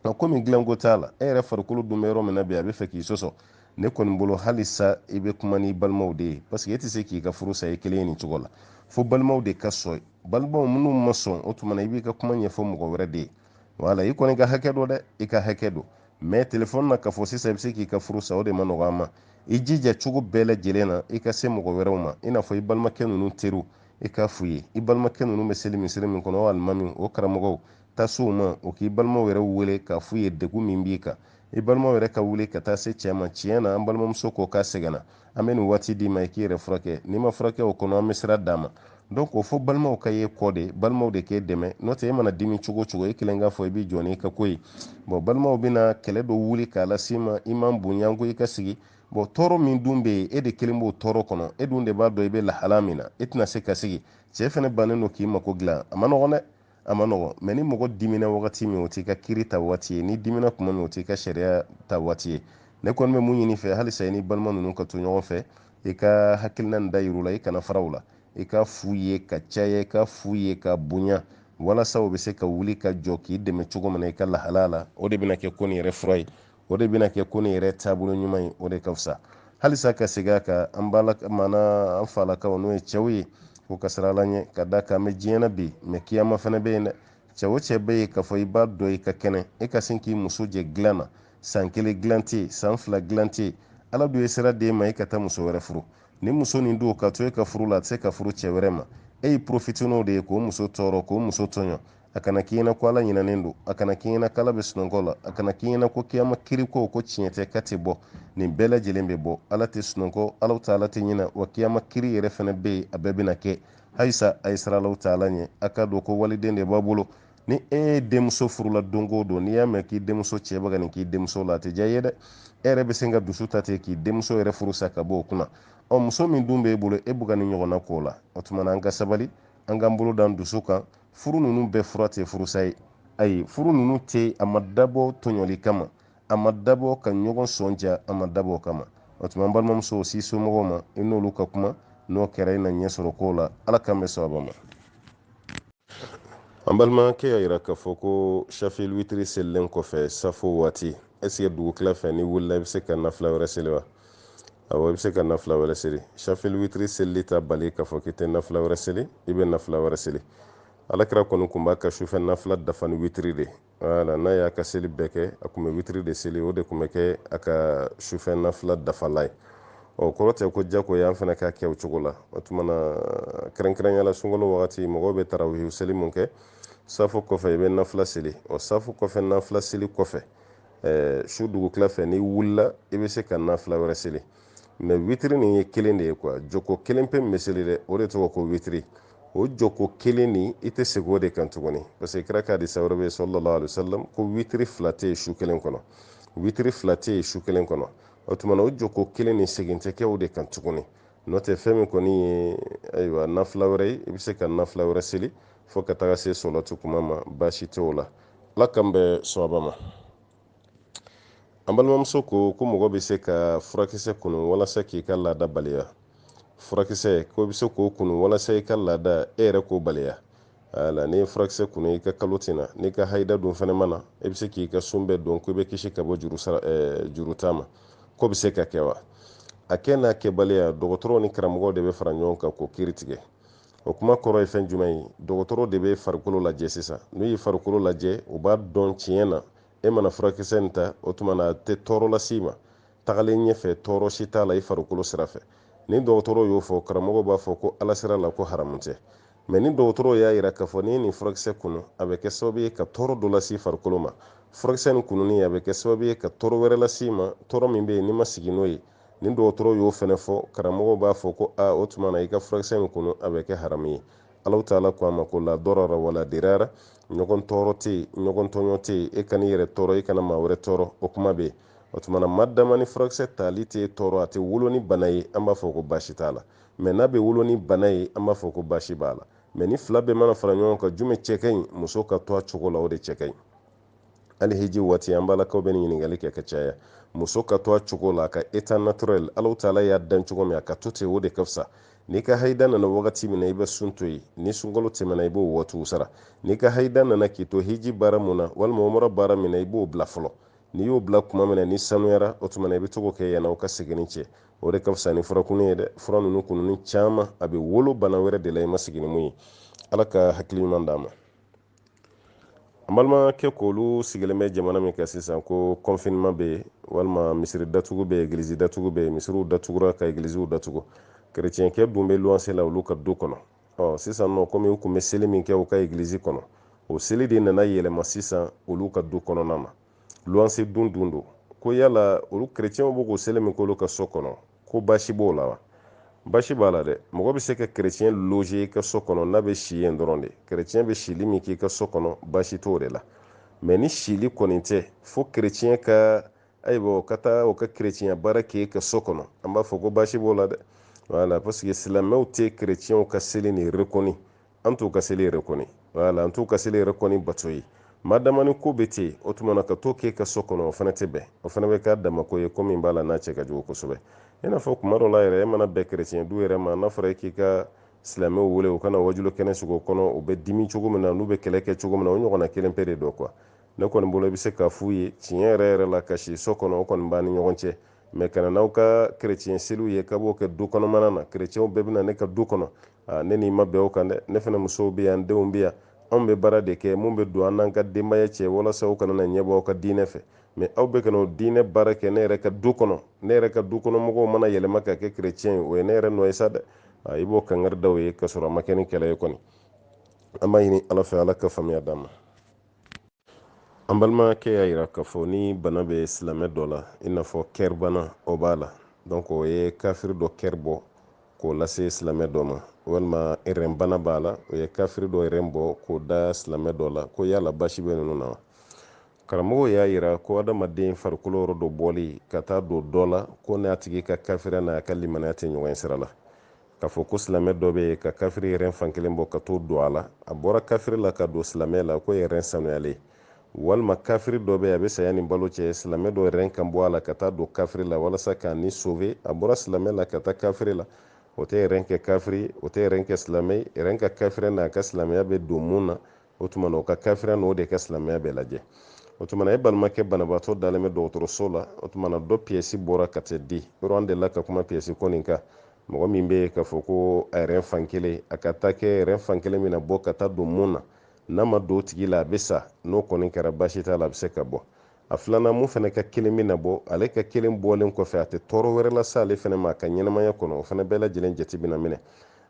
nka komi dilanko t'a la e yɛrɛ farikolo dun bɛ yɔrɔ min na bi a bɛ fɛ k'i sɔsɔ ne kɔni bolo halisa i bɛ kuma n'i balimaw de ye paseke e tɛ se k'i ka furu sa i kelen ye nin cogo la fo balimaw de ka sɔn balimaw minnu ma sɔn o tuma na i b'i ka kuma ɲɛfɔ mɔgɔ wɛrɛ de ye wala i kɔni ka hakɛ don dɛ i ka hakɛ don mɛ telefɔni na k'a fɔ sisan i bɛ se k'i ka furu sa o de man nɔgɔn an ma i jija cogo bɛɛ lajɛlen na i ka se mɔgɔ wɛrɛw ma i n'a fɔ i balimakɛ ninnu teriw i k'a f'u ye i balimakɛ ninnu bɛ seli misiri min kɔnɔ o alimami o karamɔgɔw taa s'u ma o k'i balimaw yɛrɛ wele k'a f'u ye degun min b'i kan i balimaw yɛrɛ ka wuli ka taa se cɛ ma tiɲɛ na an balimamuso ko k'a sɛgɛnna an bɛ nin waati d'i ma i k'i yɛrɛ furakɛ n'i ma furakɛ o kɔnɔ an bɛ sira d'a ma donc o fo balimaw ka ye kɔ de balimaw de k'e dɛmɛ n'o tɛ e mana dimi cogo o cogo e kelen k'a fɔ i b'i jɔ n'i ka ko ye bɔn balimaw bɛna kɛlɛ dɔ wuli k'a las'i ma i m'an bonya ko i ka sigi bɔn tɔɔrɔ min dun bɛ yen e de kelen b'o tɔɔrɔ kɔnɔ e dun de b'a dɔn i bɛ lahala min na e tɛna se ka sigi cɛ fana bannen don k'i mako dilan a man nɔgɔn dɛ a man nɔgɔn mɛ ni mɔgɔ dimina wagati min o t'i ka kiiri ta waati ye n'i dimina kuma min o t'i ka sariya ta waati ye ne kɔni bɛ mun ɲin'i fɛ halisa i ni balima ninnu ka to ɲɔgɔn fɛ i ka hakilina nin da yir'u la i kana fara u la i k'a f'u ye ka caya i k'a f'u ye ka bonya walasa o bɛ se ka wuli ka jɔ k'i dɛmɛ cogo min na i ka lahala la o de bɛna kɛ ko nin yɛrɛ fura ye o de bɛna kɛ ko nin yɛrɛ taabolo ɲuman ye o de ka fisa halisa ka segin a kan an b'a la maana an falakaw n'o ye cɛw ye u ka siran ala ɲɛ ka da kan an bɛ diɲɛ na bi mɛ kiyama fana bɛ yen dɛ cɛ o cɛ bɛ yen k'a fɔ i b'a dɔn i ka kɛnɛ e ka sin k'i muso jɛ dilan na san kelen dilan tɛ yen san fila dilan tɛ yen ala dun ye sira d'e ma e ka taa muso wɛrɛ furu ni muso nin don ka to e ka furu la a tɛ se ka furu cɛ wɛrɛ ma e y'i profite n'o de ye k'o muso tɔɔrɔ k'o muso tɔɲɔ a kana k'i ɲɛna ko ala ɲinɛnen don a kana k'i ɲɛna k'ala bɛ sunɔgɔ la a kana k'i ɲɛna ko kiyama kiri ko ko tiɲɛ tɛ k'a tɛ bɔ nin bɛɛ lajɛlen bɛ bɔ ala tɛ sunɔgɔ alahu taala tɛ ɲinɛ wa kiyama kiri yɛrɛ fana bɛ yen a bɛɛ bɛna kɛ halisa a ye siran alahu taala ɲɛ a k'a dɔn ko waliden de b'a bolo ni e ye denmuso furula don o don n'i y'a mɛn k'i denmuso cɛ bɛ ka nin k'i denmuso la a tɛ diya i ye dɛ e yɛrɛ bɛ se ka dusu ta ten k'i denmuso yɛrɛ furu sa ka bɔ o kunna ɔ muso min dun b'e bolo e bɛ ka nin ɲɔgɔnna k'o la o tuma na an ka sabali an k'an bolo d'an dusu kan furu ninnu bɛɛ fura tɛ furusa ye ayi furu ninnu tɛ a ma dabɔ tɔɲɔli kama a ma dabɔ ka ɲɔgɔn sɔn ja a ma dabɔ o kama o tuma an balimamuso s'i somɔgɔw ma i n'olu ka kuma n'o kɛra i na ɲɛ sɔrɔ kow la ala k'an bɛn sawaba ma an balimakɛ y'a yira k'a fɔ ko shafil witiri selilen kɔfɛ safo waati ɛsike dugutila fɛ n'i wulila i bɛ se ka nafila wɛrɛ seli wa awɔ i bɛ se ka nafila wɛrɛ seli shafil witiri selili t'a bali k'a fɔ k'i tɛ nafila wɛrɛ seli i bɛ nafila wɛrɛ seli ala kira kɔni tun b'a ka sufɛ nafila dafa ni witiri de wala n'a y'a ka seli bɛɛ kɛ a tun bɛ witiri de seli o de tun bɛ kɛ a ka sufɛ nafila dafalan ye o kɔrɔ tɛ ko jagoya an fana k'a kɛ o cogo la o tuma na kɛrɛnkɛrɛnya la sunkalo wagati mɔgɔw bɛ tarawihi seli min kɛ safo kɔfɛ i bɛ nafila seli ɔ safo kɔfɛ nafila seli kɔfɛ ɛɛ su dugutila fɛ n'i wulila i bɛ se ka nafila wɛrɛ seli mɛ witiri nin ye kelen de ye kuwa jɔko kelen pe min bɛ seli dɛ o de tɔgɔ ko witiri o jɔko kelen nin i tɛ segin o de kan tuguni parce que kira ka hadisa wɛrɛ bɛ yen sallallahu alaihi wa sallam ko witiri fila tɛ yen su kelen kɔnɔ witiri fila tɛ yen su kelen kɔnɔ o tuma na o jɔko kelen nin segin tɛ kɛ o de kan tuguni n'o tɛ fɛn min kɔni ye ayiwa nafila wɛrɛ ye i bɛ se ka nafila wɛrɛ seli fo ka taga se sɔlɔti kuma ma baasi tɛ o la ala k'an bɛn sawaba ma an balimamuso ko ko mɔgɔ bɛ se ka furakisɛ kunu walasa k'i ka laada baliya furakisɛ ko bɛ se k'o kunu walasa i ka laada e yɛrɛ k'o baliya ala n'i ye furakisɛ kunu i ka kalo tɛ na n'i ka hayida dun fana ma na i bɛ se k'i ka sun bɛɛ don ko i bɛ kisi ka bɔ juru sara eh, juru ta ma k'o bɛ se ka kɛ wa a kɛ n'a kɛbaliya dɔgɔtɔrɔw ni karamɔgɔw de bɛ fara ɲɔgɔn kan k'o kiri tigɛ o kuma kɔrɔ ye fɛn jumɛn ye dɔgɔtɔrɔ de bɛ farikolo lajɛ sisan n'u ye farikolo lajɛ u b'a dɔn tiɲɛ na e mana furakisɛ nin ta o tuma na a tɛ tɔɔrɔ lase i ma tagalen ɲɛfɛ tɔɔrɔ si t'a la i farikolo sira fɛ ni dɔgɔtɔrɔw y'o fɔ karamɔgɔw b'a fɔ ko ala sira la ko haramu tɛ mɛ ni dɔgɔtɔrɔw y'a yira k'a fɔ n'i ye nin furakisɛ kunu a bɛ kɛ sababu ye ka tɔɔrɔ dɔ lase farikolo ma furakisɛ nin kununi a bɛ kɛ sababu ye ka tɔɔrɔ wɛrɛ lase i ma tɔɔrɔ min bɛ yen n'i ma sigi n'o ye ni dɔgɔtɔrɔw y'o fɛnɛ fɔ karamɔgɔw b'a fɔ ko a o tuma na i ka furakisɛ in kunu a bɛ kɛ haramu ye ala taala ko a ma ko la darara wala dirara ɲɔgɔn tɔɔrɔ tɛ yen ɲɔgɔn tɔɲɔ tɛ yen e kan'i yɛrɛ tɔɔrɔ e kana maa wɛrɛ tɔɔrɔ o kuma bɛ yen o tuma na ma dama ni furakisɛ tali tɛ tɔɔrɔ a tɛ wolo ni bana ye an b'a fɔ ko baasi t'a la mɛ n'a bɛ wolo ni bana ye an b'a fɔ ko baasi b'a la mɛ nin fila bɛɛ mana fara ɲɔgɔn kan jumɛn cɛ ka ɲi muso ka to a cogo la o de cɛ ka ɲi hali hiji waati an balakaw bɛ nin ɲininkali kɛ ka caya muso ka to a cogo la a ka état naturel ala taala y'a dan cogo min a ka to ten o de ka fisa n'i ka haida nana wagati min na i bɛ sun to yen ni sunkalo tɛmɛna i b'o waatiw sara n'i ka haida nana k'i to hiji baara min na walima umra baara min na i b'o bila fɔlɔ n'i y'o bila kuma min na n'i sanuyara o tuma na i bɛ to k'o kɛ yann'aw ka seginni cɛ o de ka fisa ni furakunni ye dɛ fura ninnu kununni caman a bɛ wolo bana wɛrɛ de la i ma sigi ni min ye ala ka hakili ɲuman d'an ma an balimakɛ k'olu sigilen bɛ jamana min kan sisan ko confinement bɛ yen walima misiri datugu bɛ yen egilizi datugu bɛ yen misiriw datugura ka egiliziw datugu kerecɛnkɛ dun bɛ luwanse la olu ka du kɔnɔ ɔ sisan nɔ komi u tun bɛ seli min kɛ u ka egilizi kɔnɔ o seli de nana yɛlɛma sisan olu ka du kɔnɔna na luwanse dun dun don ko yala olu kerecɛnw bɛ k'o seli min k'olu ka so kɔnɔ ko baasi b'o la wa baasi b'a la dɛ mɔgɔ bɛ se ka kerecɛn loger i ka so kɔnɔ n'a bɛ si yen dɔrɔn de kerecɛn bɛ sili min k'i ka so kɔnɔ baasi t'o de la mɛ ni sili kɔni tɛ fo kerecɛn ka ayiwa o ka taa o ka kerecɛnya baara k'e ka so kɔnɔ an b'a fɔ ko baasi b'o la dɛ wala parce que silamɛw tɛ kerecɛnw ka seli nin rekɔni an t'u ka seli rekɔni wala an t'u ka seli rekɔni bato ye ma dama ni ko bɛ ten o tuma na ka to k'e ka so kɔnɔ o fana tɛ bɛn o fana bɛ k'a damako ye ko min b'a la n'a cɛ ka jugu kosɛbɛ i n'a fɔ kuma dɔ la yɛrɛ e mana bɛn kerecɛn du yɛrɛ ma n'a fɔra e k'i ka silamɛw wele u ka na waajuli kɛnɛ sigi o kɔnɔ u bɛ dimi cogo min na n'u bɛ kɛlɛ kɛ cogo min na o ɲɔgɔnna kelen pe de don quoi ne kɔni bolo i bɛ se k'a f'u ye tiɲɛ yɛrɛ yɛrɛ la ka si so kɔnɔ o kɔni b'an ni ɲɔgɔn cɛ mɛ ka na n'aw ka kerecɛn seliw ye k'aw b'o kɛ du kɔnɔmana na kerecɛnw bɛɛ bɛ na ne ka du kɔnɔ ne n'i ma bɛn o kan dɛ ne fana musow bɛ yan denw bɛ yan anw bɛ baara de kɛ min bɛ don an n'an ka denbaya cɛ walasa u kana na ɲɛbɔ aw ka diinɛ fɛ mɛ aw bɛ ka na o diinɛ baara kɛ ne yɛrɛ ka du kɔnɔ ne yɛrɛ ka du kɔnɔ mɔgɔw mana yɛlɛma ka kɛ kerecɛn ye o ye ne yɛrɛ nɔ ye sa dɛ i b'o kangari da u ye k'a sɔrɔ a ma kɛ ni kɛlɛ ye kɔni an b'a ɲini ala fɛ ala ka faamuya d'an ma an balimakɛ y'a yira k'a fɔ ni bana bɛ silamɛ dɔ la i n'a fɔ kɛri bana o b'a la donc o ye kafiri dɔ kɛri bɔ k'o lase silamɛ dɔ ma walima rɛn bana b'a la o ye kafiri dɔ rɛn bɔ k'o da silamɛ dɔ la ko yala baasi bɛ ninnu na wa karamɔgɔw y'a yira ko adamaden farikolo yɔrɔ dɔ bɔli ka taa don dɔ la k'o n'a tigi ka kafiriya n'a ka limanaya tɛ ɲɔgɔn sira la k'a fɔ ko silamɛ dɔ bɛ yen ka kafiri rɛn fan kelen bɔ ka t'o don a la a bɔra kafiri la ka don silamɛ la k'o ye rɛn sanuyalen ye walima kafiri dɔ bɛ yen a bɛ saya ni balo cɛ silamɛ dɔ rɛn ka bɔ a la ka taa don kafiri la walasa k'a ni sove a bɔra silamɛ la ka taa kafiri la o tɛ rɛn kɛ kafiri o tɛ rɛn kɛ silamɛ ye rɛn ka kafiriya n'a ka silamɛya bɛ don min na o tuma na o ka kafiriya n'o de ka silamɛya bɛ lajɛ o tuma na e balimakɛ banabaatɔ dalen bɛ dɔgɔtɔrɔso la o tuma na dɔ piyɛsi bɔra ka tɛ di yɔrɔ an delila ka kuma piyɛsi ko nin kan mɔgɔ min bɛ yen k'a fɔ ko a rɛn fan kelen a ka taa kɛ rɛn fan kelen bɛna bɔ ka taa don min na n'a ma don o tigi la a bɛ sa n'o kɔni kɛra baasi t'a la a bɛ se ka bɔ a filanan min fana ka kelen bɛna bɔ ale ka kelen bɔlen kɔfɛ a tɛ tɔɔrɔ wɛrɛ lase ale fana ma a ka ɲɛnamaya kɔnɔ o fana bɛɛ lajɛlen jate bɛna minɛ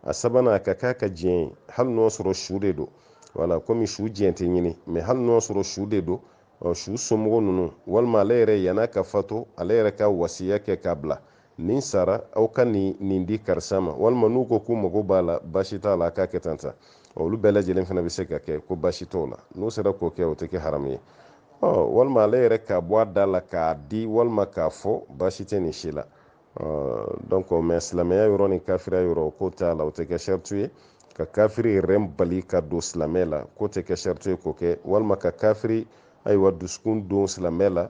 a sabanan a ka k'a ka diɲɛ ye hali n'o sɔrɔ su de don wala komi su diɲɛ tɛ ɲini mɛ hali n'o sɔrɔ su de don su somɔgɔ ninnu walima ale yɛrɛ yann'a ka fato ale yɛrɛ ka wasiya kɛ k'a bila ni n sara aw ka nin di karisa ma walima n'u ko k'u mago b'a la baasi t'a la a k'a kɛ tan tan olu bɛɛ lajɛlen fana bɛ se ka kɛ ko baasi t'o la n'u sera k'o kɛ o tɛ kɛ haramu ye walima ale yɛrɛ k'a bɔ a da la k'a di walima k'a fɔ baasi tɛ nin si la donc mɛ silamɛya yɔrɔ ni kafiriya yɔrɔ k'o t'a la o tɛ kɛ saritu ye ka kafiri rɛn bali ka don silamɛ la k'o tɛ kɛ saritu ye k'o kɛ walima ka kafiri ayiwa dusukun don silamɛ la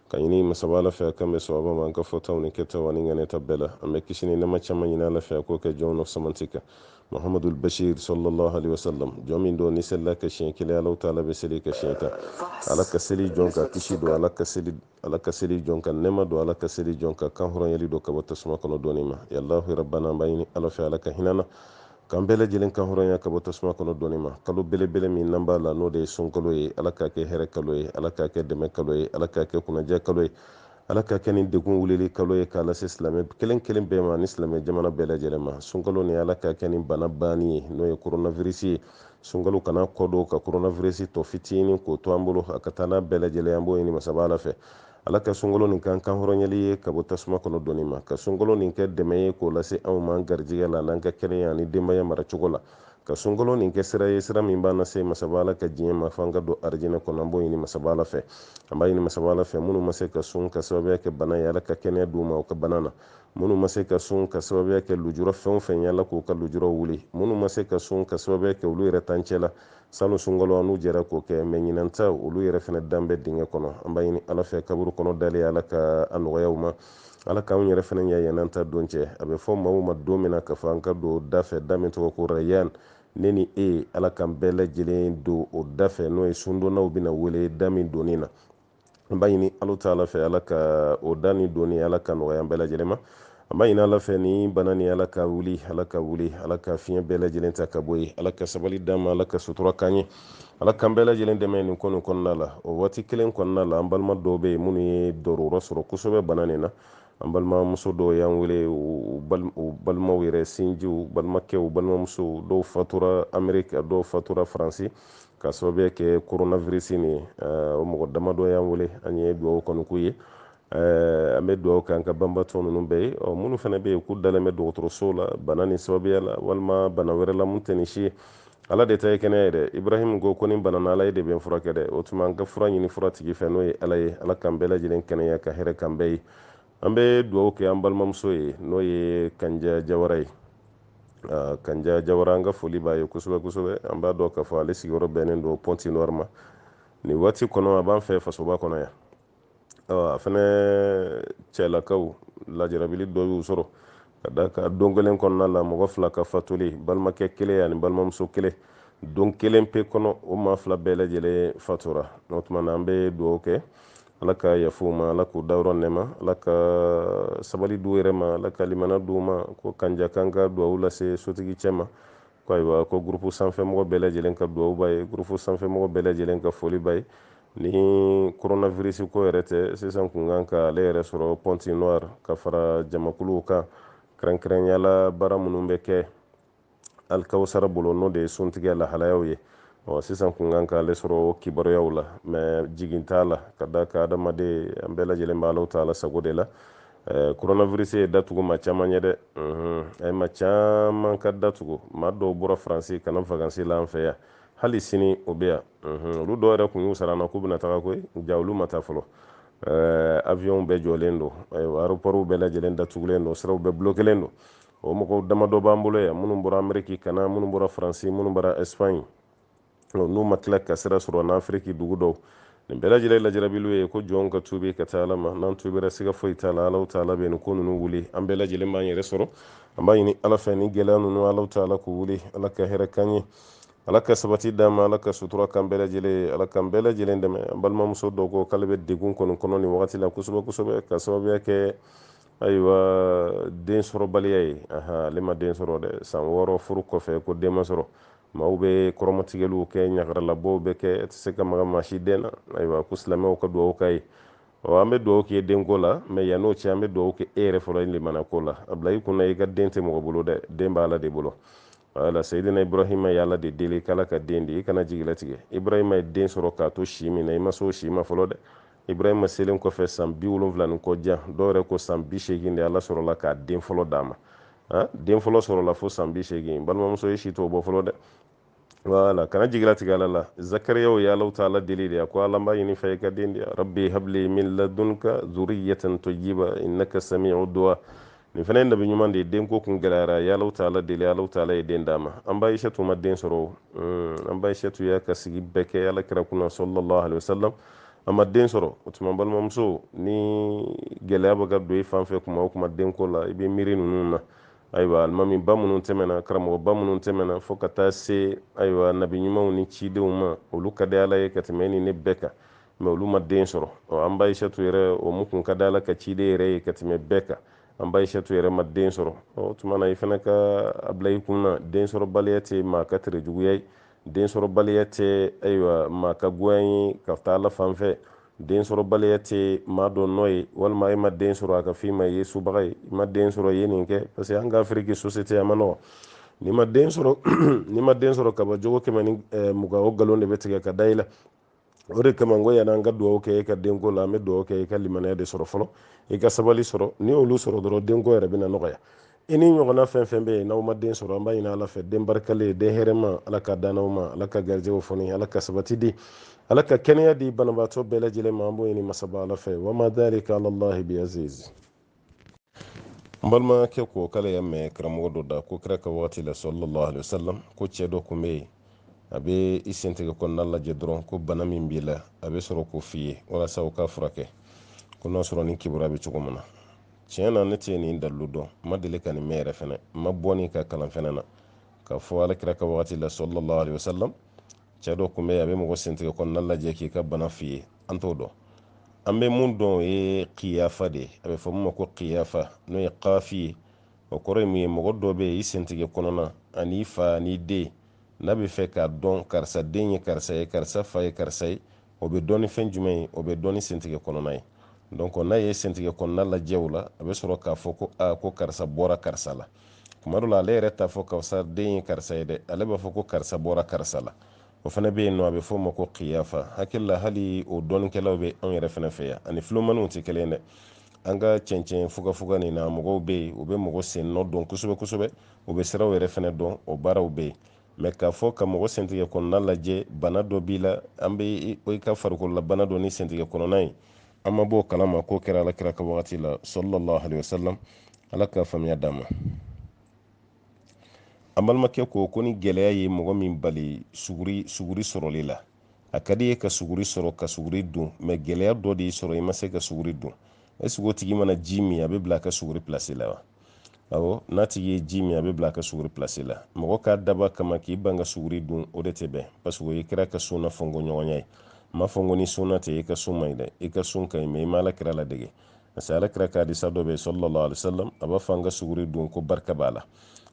ka ɲini masaba ala fɛ k'an bɛn sawaba ma an ka fɔtaw ni kɛtaw ani ŋaniyata bɛɛ la an bɛ kisi ni nɛma caman ɲini ala fɛ k'o kɛ jɔnw na fisamanti kan muhammadul bashir sallallahu alaihi wasallam jɔn min don n'i selila a kan siɲɛ kelen ala ta'ala bɛ seli i kan siɲɛ tan ala ka seli jɔn kan kisi don ala ka seli ala ka seli jɔn kan nɛma don ala ka seli jɔn kan kanhɔrɔnyali don ka bɔ tasuma kɔnɔ donni ma ya allahu rabbana an b'a ɲini ala fɛ ala ka hinɛ an na k'an bɛɛ lajɛlen kan hɔrɔnya ka bɔ tasuma kɔnɔ donni ma kalo belebele min n'an b'a la n'o de ye sunkalo ye ala k'a kɛ hɛrɛ kalo ye ala k'a kɛ dɛmɛ kalo ye ala k'a kɛ kunajɛ kalo ye ala k'a kɛ ni degun wulili kalo ye k'a lase silamɛ kelen kelen bɛɛ ma ni silamɛ jamana bɛɛ lajɛlen ma sunkalo nin ala k'a kɛ nin bana banni ye n'o ye koronavirisi ye sunkalo kana kɔdon ka koronavirisi tɔ fitinin k'o to an bolo a ka taa n'a bɛɛ lajɛlen an b'o ɲini masaba ala fɛ ala ka sunkalo nin kɛ kanhɔrɔnyali ye ka bɔ tasuma kɔnɔ donni ma ka sunkalo nin kɛ dɛmɛ ye k'o lase anw ma garijigɛ la n'an ka kɛnɛya ani denbaya maracogo la ka sunkalo nin kɛ sira ye sira min b'an lase masaba ala ka diɲɛ ma fo an ka don arijinɛ kɔnɔ an b'o ɲini masaba ala fɛ an b'a ɲini masaba ala fɛ minnu ma se ka sun ka sababuya kɛ bana ye ala ka kɛnɛya d'u ma u ka bana na minnu ma se ka sun ka sababuya kɛ lujura fɛn o fɛn ye ala k'u ka lujuraw wuli minnu ma se ka sun ka sababuya kɛ olu yɛrɛ tancɛ la salon sunkalo an n'u jɛra k'o kɛ mɛ ɲinan ta olu yɛrɛ fana dan bɛ dingɛ kɔnɔ an b'a ɲini ala fɛ kaburu kɔnɔ dalen ala ka a nɔgɔya u ma ala k'anw yɛrɛ fana ɲɛ yɛn'an ta don cɛ a bɛ fɔ maaw ma don min na k'a fɔ an ka don da fɛ da min tɔgɔ ko rayan ne ni e ala k'an bɛɛ lajɛlen don o da fɛ n'o ye sundonnaw bɛna wele da min donni na an b'a ɲini ala taala fɛ ala ka o da nin donni ala k'a nɔgɔya an bɛɛ lajɛlen ma an b'a ɲini ala fɛ nin bana nin ala k'a wuli ala k'a wuli ala ka fiɲɛ bɛɛ lajɛlen ta ka bɔ yen ala ka sabali d'an ma ala ka sutura k'an ye ala k'an bɛɛ lajɛlen dɛmɛ nin ko nin kɔnɔna la o waati kelen kɔnɔna la an balima dɔw bɛ yen minnu ye dɔrɔrɔ sɔrɔ kosɛbɛ bana nin na an balimamuso dɔw y'an wele u balimaw yɛrɛ sinjiw balimakɛw balimamusow dɔw fatura ameriki a dɔw fatura faransi ka sababuya kɛ koronavirisi nin ye o mɔgɔ damadɔ y'an wele an ye dugawu kɔni k'u ye an bɛ dugawu kɛ an ka banbatɔ ninnu bɛɛ ye ɔ minnu fana bɛ yen k'u dalen bɛ dɔgɔtɔrɔsow la bana nin sababuya la walima bana wɛrɛ la mun tɛ nin si ye ala de ta ye kɛnɛya ye dɛ ibrahim ko ko ni n banana ala ye de bɛ n furakɛ dɛ o tuma an ka fura ɲini fura tigi fɛ n'o ye ala ye ala k'an bɛɛ lajɛlen kɛnɛya ka hɛrɛ k'an bɛɛ ye an bɛ dugawu kɛ an balimamuso ye n'o ye kanja jawara ye ah, kanja jawara an ka foli b'a ye kosɛbɛ kosɛbɛ an b'a dɔn k'a fɔ ale sigiyɔrɔ bɛnnen don pointe-noire ma nin waati kɔnɔ a b'an fɛ fasoba kɔnɔ yan a fana cɛlakaw lajarabili dɔ y'u sɔrɔ ka d'a kan don kelen kɔnɔna la mɔgɔ fila ka fatuli balimakɛ kelen ani balimamuso kelen don kelen pe kɔnɔ o maa fila bɛɛ lajɛlen fatura o tuma na an bɛ dugawu kɛ ala ka yafa u ma ala k'u dayɔrɔ nɛma ala ka sabali d'u yɛrɛ ma ala ka limana d'u ma ko kanja k'an ka dugawu lase sotigi cɛ ma ko ayiwa ko gurupu sanfɛmɔgɔ bɛɛ lajɛlen ka dugawu b'a ye gurupu sanfɛmɔgɔ bɛɛ lajɛlen ka foli b'a ye ni koronavirisi ko yɛrɛ tɛ sisan kun kan ka ale yɛrɛ sɔrɔ pointe-noire ka fara jamakuluw kan kɛrɛnkɛrɛnya la baara minnu bɛ kɛ alikawusara bolo n'o de ye suntigɛ lahalayaw ye ɔ sisan kun kan k'ale sɔrɔ kibaruyaw la mɛ jigi t'a la ka d'a kan adamaden an bɛɛ lajɛlen b'ala taala sago de la eh, coronavirus ye da tugu maa caman ye dɛ mhm. a ye maa caman ka da tugu maa dɔw bɔra faransi ka na vakansi la an fɛ yan hali sini o bɛ yan mhm. olu dɔw yɛrɛ kun y'u sara an na k'u bɛna taga koyi ja olu ma taa fɔlɔ eh, avion bɛɛ jɔlen don ayiwa aéroportw bɛɛ lajɛlen datugulen don siraw bɛɛ bulokelen don o mɔgɔw damadɔ b'an bolo yan minnu bɔra ameriki ka na minnu bɔra faransi minnu bɔra espagne n'u ma tila ka sira sɔrɔ n'afiriki dugu dɔw nin bɛɛ lajɛlen lajarabiliw ye ko jɔnw ka tuubi ka taa ala ma n'an tuubira siga foyi t'a la alaw taala bɛ nin ko ninnu wuli an bɛɛ lajɛlen b'an yɛrɛ sɔrɔ an b'a ɲini ala fɛ nin gɛlɛya ninnu alaw taala k'u wuli ala ka hɛrɛ k'an ye ala ka sabali d'an ma ala ka sutura k'an bɛɛ lajɛlen ye ala k'an bɛɛ lajɛlen dɛmɛ an balimamuso dɔ ko k'ale bɛ degun kɔni kɔnɔ nin wagati la kosɛbɛ kosɛbɛ ka sababuya kɛ ayiwa den sɔrɔbaliya ye ale ma den sɔrɔ dɛ san wɔɔrɔ furu kɔfɛ ko den ma sɔrɔ maaw bɛ kɔrɔmatigɛliw kɛ ɲagaralabɔw bɛ kɛ e tɛ se ka maga maa si den na ayiwa ko silamɛw ka dugawu k'a ye ɔ an bɛ dugawu k'i ye denko la mɛ yann'o cɛ an bɛ dugawu kɛ e yɛrɛ fɔlɔ ye limanako la a bila i kunna i ka den tɛ mɔgɔ bolo dɛ den b'ala de bolo wala seyidina ibrahima ye ala de deli k'ala ka den di i kana jigilatigɛ ibrahima ye den sɔrɔ k'a to si min na i ma se o si ma fɔlɔ dɛ ibrahima selen kɔfɛ san bi wolonwula ni kɔ jan dɔw yɛrɛ ko san bi seegin de ala sɔrɔla ka den fɔlɔ d'a ma den fɔlɔ sɔrɔla fo san bi seegin balimamuso e si t'o bɔ fɔlɔ dɛ wala kana jigilatigɛ ala la zakariya ye alahu taala deli de a ko ala n b'a ɲini i fɛ i ka den di rabbi habli min ladunka zuriyatan tayyiba innaka sami'u du'a nin fana ye nabi ɲuman de ye denko kun gɛlɛyara a ye alahu taala deli alahu taala ye den d'a ma an ba ayisatu ma den sɔrɔ hmm, an ba ayisatu y'a ka sigi bɛɛ kɛ ala kira kunna sallallahu alaihi wasallam a ma den sɔrɔ o tuma balimamuso ni gɛlɛya bɛ ka don i fan fɛ kuma o kuma denko la i bɛ miiri ninnu na ayiwa alimami ba minnu tɛmɛna karamɔgɔ ba minnu tɛmɛna fo ka taa se ayiwa nabi ɲumanw ni cidenw ma olu ka di ala ye ka tɛmɛ e ni ne bɛɛ kan mɛ olu ma den sɔrɔ an ba ayisatu yɛrɛ o min kun ka di ala ka ciden yɛrɛ ye ka tɛmɛ bɛɛ kan an ba ayisatu yɛrɛ ma den sɔrɔ o tuma na i fana ka a bila i kun na den sɔrɔbaliya tɛ maa ka tere juguya ye den sɔrɔbaliya tɛ ayiwa maa ka goya ye ka taa ala fan fɛ den sɔrɔbaliya tɛ maa dɔ nɔ ye walima e ma den sɔrɔ a ka f'i ma i ye subaga ye i ma den sɔrɔ i ye nin kɛ parce que an ka afiriki société a man nɔgɔ n'i ma den sɔrɔ n'i ma den sɔrɔ kaba jogo kɛmɛ ni mugan o nkalon de bɛ tigɛ ka da i la o de kama n ko yann'an ka dugawu kɛ e ka denko la an bɛ dugawu kɛ e ka limaniya de sɔrɔ fɔlɔ i ka sabali sɔrɔ n'i y'olu sɔrɔ dɔrɔn denko yɛrɛ bɛna nɔgɔya i ni ɲɔgɔnna fɛn o fɛn bɛ yen n'aw ma den sɔrɔ an b'a ɲini ala fɛ den barikalen den hɛrɛma ala k'a d'aw ma ala ka garijɛgɛw foni ala ka sabati di ala ka kɛnɛya di banabaatɔ bɛɛ lajɛlen ma an b'o ɲini masaba ala fɛ wama dalika alallahi biaziz n balimakɛ ko k'ale y'a mɛn karamɔgɔ dɔ da ko kira ka wagati la sallallahu alaihi wasallam ko cɛ dɔ kun bɛ yen a bɛ i sentigɛ kɔnɔna lajɛ dɔrɔn ko bana min b'i la a bɛ sɔrɔ k'o f'i ye walasa o ka furakɛ ko n'a sɔrɔ nin kibaruya bɛ cogo min na tiɲɛ na ne tɛ nin dalilu dɔn n ma deli ka nin mɛn yɛrɛ fɛnɛ n ma bɔ nin kan kalan fɛnɛ na k'a fɔ ala kira ka wagati la sallallahu alaihi wasallam cɛ dɔ kun bɛ a bɛ mɔgɔ sentigɛ kɔnɔna lajɛ k'i ka bana f'i ye an t'o dɔn an bɛ mun dɔn o ye kiyafa de ye a bɛ fɔ min ma ko kiyafa n'o ye kafi ye o kɔrɔ ye mun ye mɔgɔ dɔ bɛ yen i sentigɛ kɔnɔna ani fa ani den n'a bɛ fɛ k'a dɔn karisa den ye karisa ye karisa fa ye karisa ye o bɛ dɔn ni fɛn jumɛn ye o bɛ dɔn ni sentigɛ kɔnɔna ye donc n'a ye sentigɛ kɔnɔna lajɛ o la a bɛ sɔrɔ k'a fɔ ko aa ko karisa bɔra karisa la tuma dɔ la ale yɛrɛ t'a fɔ karisa den ye karisa ye dɛ ale b'a fɔ ko karisa bɔra karisa la o fana bɛ yen nɔ a bɛ fɔ o ma ko kiyafa n hakili la hali o dɔnnikɛlaw bɛ anw yɛrɛ fana fɛ yan a ni filomaniw tɛ kelen dɛ an ka cɛncɛn fugafuga nin na mɔgɔw bɛ yen u bɛ mɔgɔ sen nɔ dɔn kosɛbɛ kosɛbɛ u bɛ siraw yɛrɛ fana dɔn o baaraw bɛ yen mɛ k'a fɔ ka mɔgɔ sentigɛ kɔnɔna lajɛ bana dɔ b'i la an bɛ i ka farikolola bana dɔn ni sentigɛ kɔnɔna ye an ma bɔ o kalama k'o kɛra alakira ka wagati la sallallahu alaihi wasallam ala ka faamuya d'an ma an balimakɛ ko ko ni gɛlɛya ye mɔgɔ min bali suguri sɔrɔli la a ka d'i ye ka suguri sɔrɔ ka suguri dun mɛ gɛlɛya dɔ de y'i sɔrɔ i ma se ka suguri dun est-ce que o tigi mana ji min a bɛ bila a ka suguri pilasi la wa awɔ n'a tigi ye ji min a bɛ bila a ka suguri pilasi la mɔgɔ k'a daba kama k'i ban ka suguri dun o de tɛ bɛn parce que o ye kira ka sunna fɔnko ɲɔgɔnya ye n m'a fɔ ko ni sunna tɛ i ka sun man ɲi dɛ i ka sun ka ɲi mɛ i ma ala kira ladege parce que alakira ka hadisa dɔ bɛ sallallahu alaihi wasallam a b'a fɔ an ka suguri dun ko barika b'a la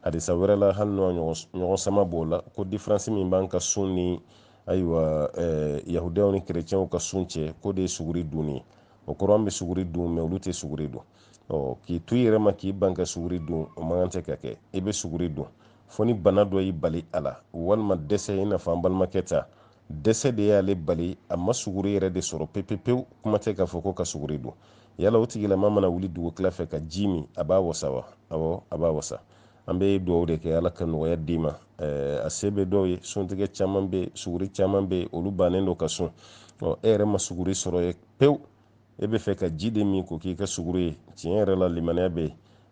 hadisa wɛrɛ la hali n'o ɲɔgɔn sama b'o la ko diferansi min b'an ka sun ni ayiwa eh, yahudiyaw ni kerecɛnw ka sun cɛ k'o de ye suguri dunni ye o kɔrɔ an bɛ suguri dun mɛ olu tɛ suguri dun ɔ k'i to i yɛrɛ ma k'i ban ka suguri dun o man kan tɛ ka kɛ i bɛ suguri dun fo ni bana dɔ y'i bali a la walima dɛsɛ i n'a fɔ an balimakɛ ta dɛsɛ de y'ale bali a ma suguri yɛrɛ de sɔrɔ pepepewu kuma tɛ k'a fɔ ko ka suguri dun yala o tigilama mana wuli dugutila fɛ ka ji min a b'a wasa wa awɔ a b'a wasa an bɛ dugawu de kɛ ala ka nɔgɔya d'i ma a se bɛ dɔw ye suntigɛ caman bɛ suguri caman bɛ olu bannen don ka sun ɔ e yɛrɛ ma suguri sɔrɔ ye pewu e b'a fɛ ka ji de min k'o k'i ka suguri ye tiɲɛ yɛrɛ la limaniya bɛ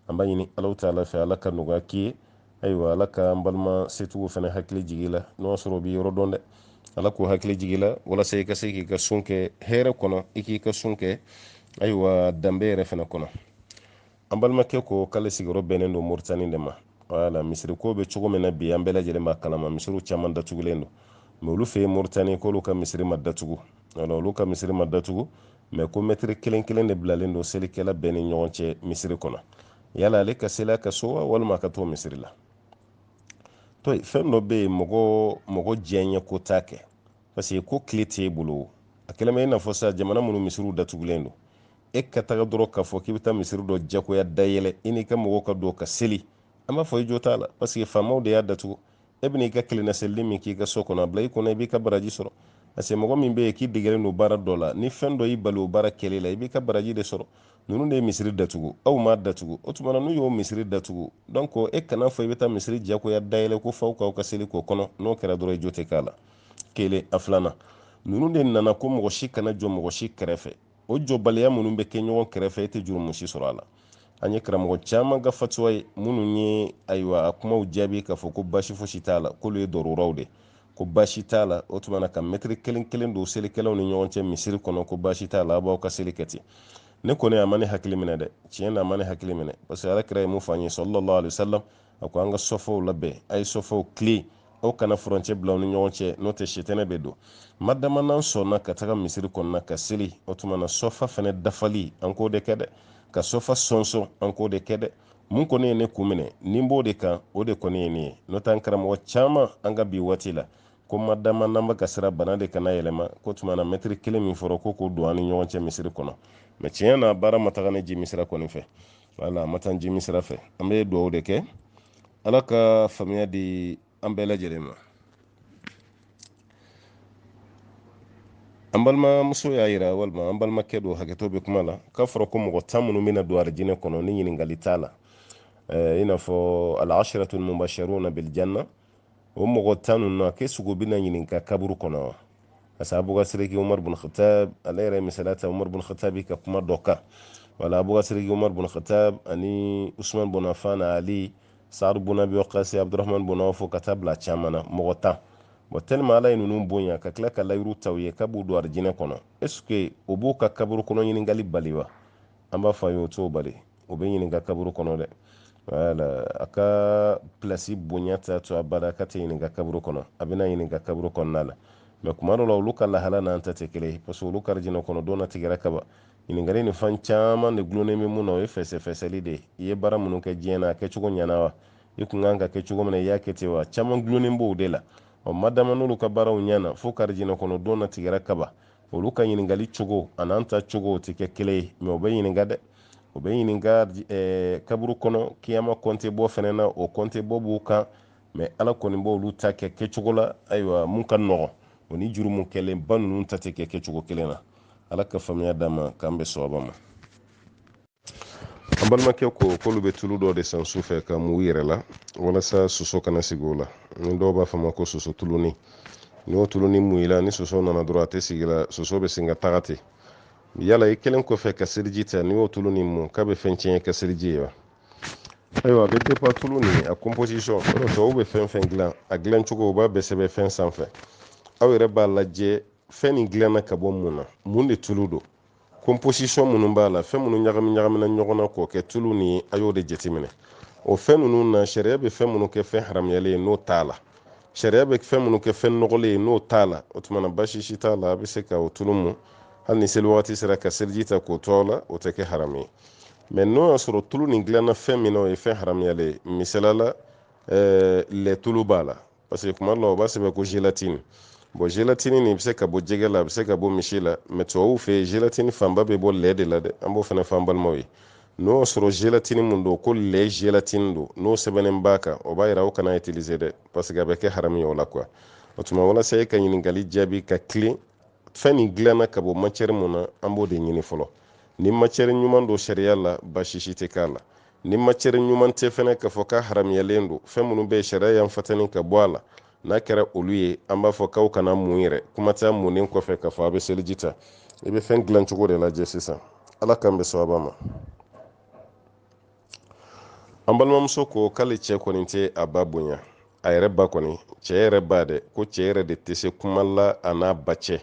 an b'a ɲini ala ta'ala fɛ ala ka nɔgɔya k'i ye ayiwa ala ka an balima setigiw fana hakili jigi i la n'u y'a sɔrɔ u b'i yɔrɔ dɔn dɛ ala k'u hakili jigi i la walasa i ka se k'i ka sun kɛ hɛrɛ kɔnɔ i k'i ka sun kɛ ayiwa danbe yɛrɛ fana kɔnɔ an balimakɛ ko k'ale sigiyɔrɔ bɛnnen don moritani de ma wala misiri ko bɛ cogo min na bi an bɛɛ lajɛlen b'a kalama misiriw caman datugulen don mɛ olu fɛ yen moritani k'olu ka misiri ma datugu wala olu ka misiri ma datugu mɛ ko mɛtiri kelen kelen de bilalen don selikɛla bɛɛ ni ɲɔgɔn cɛ misiri kɔnɔ yala ale ka seli a ka so wa walima a ka t'o misiri la to fɛn dɔ bɛ yen mɔgɔ mɔgɔ diyanyeko t'a kɛ parce que ko tile t'e bolo a kɛlen bɛ i n'a fɔ sa jamana minnu misiriw datugulen don e ka taga dɔrɔn k'a fɔ k'i bɛ taa misiri dɔ jagoya dayɛlɛ i n'i ka mɔgɔw ka don ka seli an b'a fɔ i jo t'a la parce que faamaw de y'a datugu e bɛna i ka kelenna selili min k'i ka so kɔnɔ a bila i kɔnɔ i b'i ka baraji sɔrɔ parce que mɔgɔ min bɛ yen k'i degelen don baara dɔ la ni fɛn dɔ y'i bali o baara kɛli la i b'i ka baraji de sɔrɔ ninnu de ye misiri datugu aw m'a datugu o tuma na n'u y'o misiri datugu donc e kana fɔ i bɛ taa misiri jagoya dayɛlɛ ko fo aw k'aw ka seli k'o kɔnɔ n'o kɛra dɔrɔn i jo tɛ k'a la kelen a filanan ninnu de nana ko mɔgɔ si kana jɔ mɔgɔ si kɛrɛfɛ o jɔbaliya minnu bɛ kɛ ɲɔgɔn kɛrɛfɛ e tɛ jurumu si sɔrɔ a la an ye karamɔgɔ caman ka fatuwa ye minnu ye ayiwa a kumaw jaabi k'a fɔ ko baasi fosi t'a la k'olu ye daruraw de ko baasi t'a la o tuma na ka mɛtiri kelen kelen don selikɛlaw ni ɲɔgɔn cɛ misiri kɔnɔ ko baasi t'a la aw b'aw ka seli kɛ ten ne kɔni a ma ne hakili minɛ dɛ tiɲɛ na a ma ne hakili minɛ parce que ala kira ye mun fɔ an ye sallallahu alaihi wasallam a ko an ka sɔfaw labɛn a ye sɔfaw tilen aw kana furancɛ bila aw ni ɲɔgɔn cɛ n'o tɛ sitanɛ bɛ don madama n'an sɔnna ka taga misiri kɔnɔna ka seli o tuma na sɔfa fana dafali an k'o de kɛ dɛ ka sɔfa sɔnsɔn an k'o de kɛ dɛ mun kɔni ye ne kun minɛ ni n b'o de kan o de kɔni ye ne ye n'o tɛ an karamɔgɔ caman an ka bi waati la ko madama n'an bɛ ka siran bana de kana yɛlɛma ko tuma na mɛtiri kelen min fɔra ko k'o don an ni ɲɔgɔn cɛ misiri kɔnɔ mɛ tiɲɛ na baara ma taga ne jimi sira kɔni fɛ wala a ma taa jimi sira fɛ an bɛ dugawu de kɛ ala ka faamuya di an bɛɛ lajɛlen ma an balimamuso y'a yira walima an balimakɛ don hakɛto bɛ kuma la k'a fɔra ko mɔgɔ tan minnu bɛna don arijinɛ kɔnɔ ni ɲininkali t'a la eh, i n'a fɔ al-asharatul mubasharuna bil janna o mɔgɔ tan ninnu a ke sugu bɛna ɲininka kaburu kɔnɔ wa parce que abubakar sidiki umaru bin khattab ale yɛrɛ misali ta umaru bin khattab ka kuma dɔ kan wala abubakar sidiki umaru bin khattab ani usman bin affan ali sa'ad bin abi waqas abdurrahman bin awf ka taa bila caman na mɔgɔ tan bon tellement ala ye ninnu bonya ka tila ka layidu ta u ye k'a b'u don arijinɛ kɔnɔ est-ce que o b'u ka kaburu kɔnɔ ɲininkali bali wa an b'a fɔ ayi o t'o bali o bɛ ɲininka kaburu kɔnɔ dɛ wala a ka pilasi bonya t'a to abada k'a tɛ ɲininka kaburu kɔnɔ a bɛna ɲininka kaburu kɔnɔna la mɛ kuma dɔ la olu ka lahala n'an ta tɛ kelen ye parce que olu ka arijinɛ kɔnɔ don latigɛra kaban ɲininkali nin fan caman de gulonnen bɛ mun na o ye fɛsɛfɛsɛli de ye i ye baara minnu kɛ diɲɛ na a kɛcogo ɲɛna wa i kun kan k'a kɛ cogo min na i y'a kɛ ten wa caman gulonnen b'o de la ɔ madama n'olu ka baaraw ɲɛna fo u ka arijinɛ kɔnɔ don latigɛra kaban olu ka ɲininkali cogo a n'an ta cogo tɛ kɛ kelen ye mɛ o bɛ ɲininka dɛ o bɛ ɲininka eh, kaburu kɔnɔ kiyama kɔnte bɔ fana na o kɔnte bɔ b'u kan mɛ ala kɔni b'olu ta kɛ kɛcogo la ayiwa mun ka nɔgɔn o ni jurumu kɛlenba ninnu ta tɛ kɛ kɛcogo kelen na ala ka faamuya d'an ma k'an bɛn sawaba ma an balimakɛ ko k'olu bɛ tulu dɔ de san su fɛ k'a mu u yɛrɛ la walasa soso kana sigi o la ni dɔw b'a fɔ a ma ko soso tulunin n'o tulunin mu i la ni soso nana dɔrɔn a tɛ sigi i la soso bɛ sin ka taga ten yala i kɛlen kɔfɛ ka seliji ta n'i y'o tulu nin mun k'a bɛ fɛn tiɲɛ i ka seliji ye wa ayiwa a bɛ dépend tulu nin a composition o tubabu bɛ fɛn fɛn dilan a dilan cogo u b'a bɛɛ sɛbɛn fɛn sanfɛ aw yɛrɛ b'a lajɛ fɛn nin dilanna ka bɔ mun na mun de tulu don composition minnu b'a la fɛn minnu ɲagami ɲagamina ɲɔgɔn na k'o kɛ tulu nin a y'o de jateminɛ o fɛn ninnu na sariya bɛ fɛn minnu kɛ fɛn haramuyalen ye n'o t'a la sariya bɛ fɛn minnu kɛ fɛn nɔgɔlen ye n'o t'a la o tuma na basi si t'a la a bɛ se ka o tulu mun hali ni seli wagati sera ka seliji ta k'o to a la o tɛ kɛ haramu ye mɛ n'o y'a sɔrɔ tulu nin dilanna fɛn min na o ye fɛn haramuyalen ye misali la ɛɛ lɛ tulu b'a la parce que kuma dɔ la u b'a sɛbɛn ko gélatine bon gélatine nin bɛ se ka bɔ jɛgɛ la a bɛ se ka bɔ misi la mais tubabuw fɛ yen gélatine fanba bɛ bɔ lɛ de la dɛ an b'o fana fɔ an balimaw ye n'o y'a sɔrɔ gélatine mun don ko lɛ gélatine don n'o sɛbɛnnen b'a kan o b'a yira aw kana utiliser dɛ parce que a bɛ kɛ haramu ye o la quoi o tuma walasa e ka ɲininkali jaabi ka tilen fɛn nin dilanna ka bɔ matière mun na an b'o de ɲini fɔlɔ ni matière ɲuman don sariya la baasi si tɛ k'a la ni matière ɲuman tɛ fɛnɛ k'a fɔ k'a haramuyalen don fɛn minnu bɛ sariya y'an fatani ka bɔ a la n'a kɛra olu ye an b'a fɔ k'aw kana mun yɛrɛ kuma t'a munnen kɔfɛ k'a fɔ a bɛ seliji ta i bɛ fɛn dilan cogo de lajɛ sisan ala k'an bɛn sawaba ma an balimamuso ko k'ale cɛ kɔni tɛ a ba bonya a yɛrɛ ba kɔni cɛ yɛrɛ ba dɛ ko cɛ yɛrɛ de tɛ se kuma la a n'a ba cɛ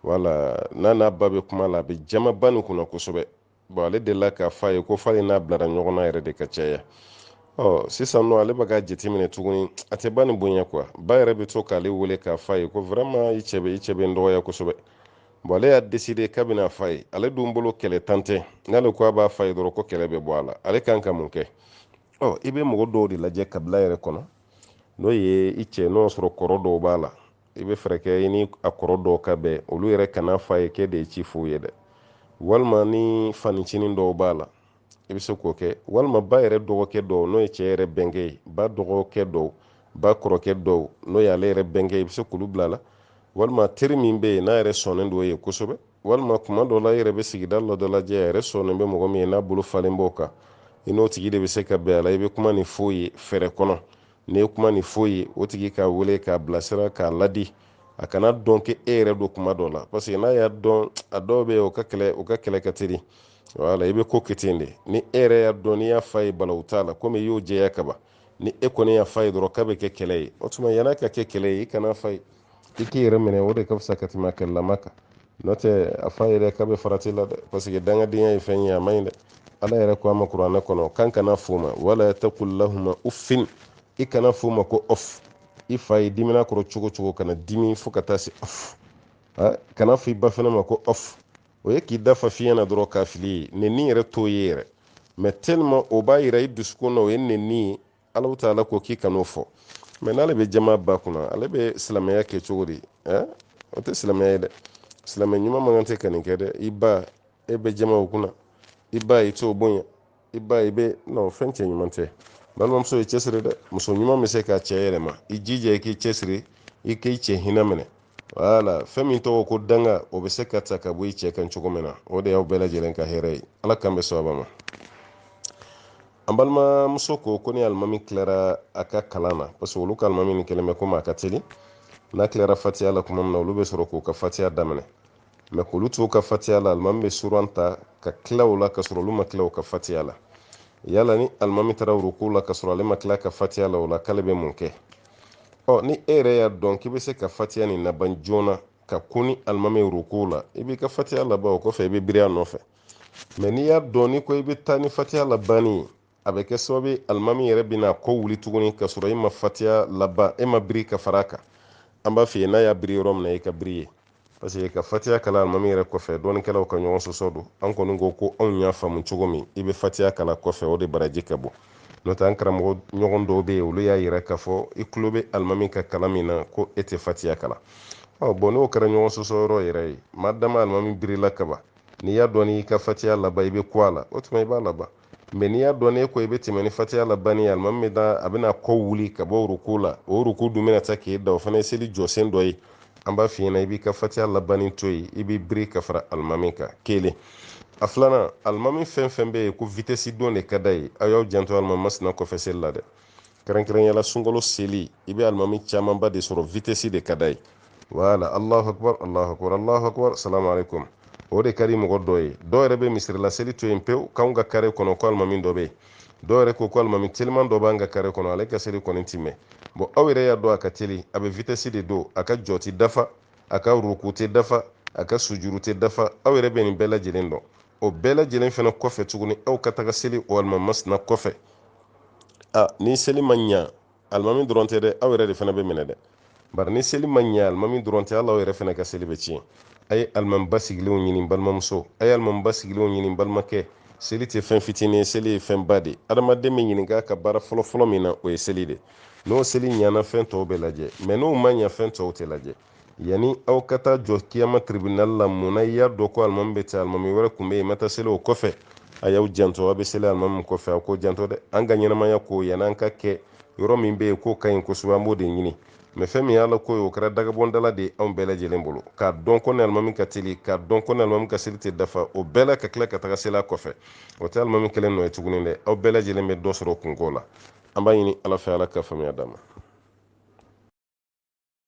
wala n'a n'a ba bɛ kuma la a bɛ jama ba nin kunna kosɛbɛ bon ale delila k'a fɔ a ye ko f'ale n'a bilara ɲɔgɔn na yɛrɛ de ka caya ɔ sisan nɔ ale bɛ k'a jateminɛ tuguni a tɛ ba nin bonya quoi ba yɛrɛ bɛ to k'ale wele k'a fɔ a ye ko vraiment i cɛ bɛ i cɛ bɛ n dɔgɔya kosɛbɛ bon ale y'a décidé k'a bɛna fɔ a ye ale dun bolo kɛlɛntan tɛ n'ale ko a b'a fɔ a ye dɔrɔn ko kɛlɛ bɛ bɔ a la ale kan ka mun kɛ ɔ i bɛ mɔgɔ dɔw de lajɛ kabila yɛrɛ kɔnɔ n'o ye i cɛ n'o y'a sɔrɔ kɔrɔ dɔw b'a la i bɛ fɛɛrɛ kɛ i ni a kɔrɔ dɔw ka bɛn olu yɛrɛ kana fɔ a ye k'e de ye ci f'u ye dɛ walima ni fancinin dɔw b'a la i bɛ se k'o kɛ walima ba yɛrɛ dɔgɔkɛ dɔw n'o ye cɛ yɛrɛ bɛnkɛ ye ba dɔgɔkɛ dɔw ba kɔrɔkɛ dɔw n'o ye ale yɛrɛ bɛnkɛ ye i bɛ se k'olu bila a la walima teri min bɛ yen n'a yɛrɛ sɔnnen don o ye kosɛbɛ walima kuma dɔ la i yɛrɛ bɛ sigida la dɔ lajɛ a yɛrɛ sɔnnen bɛ mɔgɔ min ye n'a bolo falen b'o kan i n'o tigi de bɛ se ka bɛn a la i bɛ kuma nin f'o ye fɛɛrɛ kɔnɔ n'i ye kuma nin f'o ye o tigi k'a wele k'a bilasira k'a ladi a kana dɔn k'e yɛrɛ don kuma dɔ la parce que n'a y'a dɔn a dɔw bɛ o ka kɛlɛ o ka kɛlɛ ka teli wala i bɛ ko kɛ ten de ni e yɛrɛ y'a dɔn n'i y'a f'a ye balawu t'a la komi i y'o jɛya kaban ni e kɔni y'a f'a ye dɔrɔn k'a bɛ kɛ kɛlɛ ye o tuma yann'a ka kɛ kɛlɛ ye i kana f'a ye i k'i yɛrɛ minɛ o de ka fisa ka tɛmɛ kɛlɛlama kan n'o tɛ a f'a ye dɛ k'a bɛ farati la dɛ parce que dangadenya ye fɛn ye a man ɲi dɛ ala yɛrɛ ko a ma kuranɛ kɔnɔ k'an kana f'o ma wala taqul lahuma uffin i kana f'o ma ko off i fa ye dimina kɔrɔ cogo o cogo kana dimi fo ka taa se off kana fɔ i ba fana ma ko off o ye k'i da fa fiɲɛ na dɔrɔn k'a fili ye nenni yɛrɛ t'o ye yɛrɛ mais tellement o b'a yira i dusukun na o ye nenni ye alahu taala ko k'i kan'o fɔ mais n'ale bɛ jama ba kunna ale bɛ silamɛya kɛ cogo di o tɛ silamɛya ye dɛ silamɛ ɲuman man kan tɛ ka nin kɛ dɛ i ba e bɛ jama o kunna i ba i t'o bonya i ba i bɛ non fɛn cɛ ɲuman tɛ balimamuso i cɛsiri dɛ muso ɲuman bɛ se k'a cɛ yɛlɛma i jija i k'i cɛsiri i k'i cɛ hinɛ minɛ wala fɛn min tɔgɔ ko danga o bɛ se ka ta ka bɔ i cɛ kan cogo min na o de y'aw bɛɛ lajɛlen ka hɛrɛ ye ala k'an bɛn sawaba ma an balimamuso ko ko ni alimami tilara a ka kalan na parce que olu ka alimami nin kɛlen bɛ komi a ka teli n'a tilara fatiya la tuma min na olu bɛ sɔrɔ k'u ka fatiya daminɛ mɛ k'olu t'u ka fatiya la alimami bɛ suran ta ka tila o la ka sɔrɔ olu ma tila u ka fatiya la yala ni alimami taara ruku la ka sɔrɔ ale ma tila ka fatiya la o la k'ale bɛ mun kɛ ɔ ni e yɛrɛ y'a dɔn k'i bɛ se ka fatiya nin laban joona ka kun ni alimami ruku la i b'i ka fatiya laban o kɔfɛ i bɛ biri a nɔfɛ mɛ n'i y'a dɔn n'i ko i bɛ taa ni fatiya labanni ye a bɛ kɛ sababu ye alimami yɛrɛ bɛna kɔ wuli tuguni ka sɔrɔ i ma fatiya laban e ma biri ka fara a kan an b'a f'i ye n'a y'a biri yɔrɔ min na i ka biri yen parce que ka fatiya kalan alimami yɛrɛ kɔfɛ dɔnnikɛlaw ka ɲɔgɔn sɔsɔ don an kɔni ko ko anw y'a faamu cogo min i bɛ fatiya kalan kɔfɛ o de baraji ka bon n'o tɛ an karamɔgɔ ɲɔgɔn dɔw bɛ yen olu y'a yira k'a fɔ i tulo bɛ alimami ka kalan min na ko e tɛ fatiya kalan ɔ bɔn n'o kɛra ɲɔgɔn sɔsɔ yɔrɔ yɛrɛ ye maa dama alimami birila kaban n'i y'a dɔn n'i ka fatiya laban i bɛ kun a la o tuma i b'a laban mɛ n'i y'a dɔn n'e ko i bɛ tɛmɛ ni fatiya labanni ye alimami bɛ taa a bɛna kɔ wuli ka bɔ ruku la o ruku dun bɛna taa k'e dan o fana ye seli jɔsen dɔ ye an b'a f'i ɲɛna i b'i ka fatiya labanni to yen i b'i biri ka fara alimami kan kelen a filanan alimami fɛn fɛn bɛ yen ko vitɛsi don de ka d'a ye aw y'aw janto alimami masina kɔfɛ seli la dɛ kɛrɛnkɛrɛnyala sunkalo seli i bɛ alimami camanba de sɔrɔ vitɛsi de ka d'a ye wala alahu akubar alahu akubar alahu akubar salamu aleykum o de ka di mɔgɔ dɔ ye dɔw yɛrɛ bɛ misirila seli to yen pewu k'anw ka kare kɔnɔ ko alimami dɔ bɛ yen dɔw yɛrɛ ko ko alimami teliman dɔ b'an ka kare kɔnɔ ale ka seli kɔni ti mɛn bɔn aw yɛrɛ y'a dɔn a ka teli a bɛ vitɛsi de don a ka jɔ tɛ dafa a ka ruku tɛ dafa a ka sujuru tɛ dafa aw yɛrɛ bɛ nin bɛɛ lajɛlen dɔn o bɛɛ lajɛlen fana kɔfɛ tuguni aw ka taga seli o alimami masina kɔfɛ a ni seli ma ɲa alimami dɔrɔn tɛ dɛ aw yɛrɛ de fana bɛ minɛ dɛ bari ni seli ma ɲa alimami dɔrɔn tɛ hali aw yɛrɛ fana ka seli bɛ tiɲɛ a ye alimami basigilenw ɲini balimamuso a ye alimami basigilenw ɲini balimakɛ seli tɛ fɛn fitinin ye seli ye fɛn ba de ye adamaden bɛ ɲininka ka baara fɔlɔfɔlɔ min na o ye seli de n'o seli ɲana fɛn tɔw bɛ lajɛ mɛ n'o ma ɲa fɛn tɔw tɛ lajɛ yani aw ka taa jɔ kiyama tribunal la munna i y'a dɔn ko alimami bɛ ten alimami wɛrɛ tun bɛ yen ma taa seli o kɔfɛ a y'aw janto aw bɛ seli alimami kɔfɛ aw k'aw janto dɛ an ka ɲɛnamaya ko yanni an ka kɛ yɔrɔ min bɛ yen k'o ka ɲi kosɛbɛ an b'o de ɲini mɛ fɛn min y'ala ko ye o kɛra dagabɔndala de ye anw bɛɛ lajɛlen bolo k'a dɔn ko ni alimami ka teli k'a dɔn ko ni alimami ka seli tɛ dafa o bɛɛ la ka tila ka taga seli a kɔfɛ o tɛ alimami kelen nɔ ye tuguni dɛ aw bɛɛ lajɛlen bɛ dɔ sɔrɔ kunko la an b'a ɲini ala fɛ ala ka faamuya d'an ma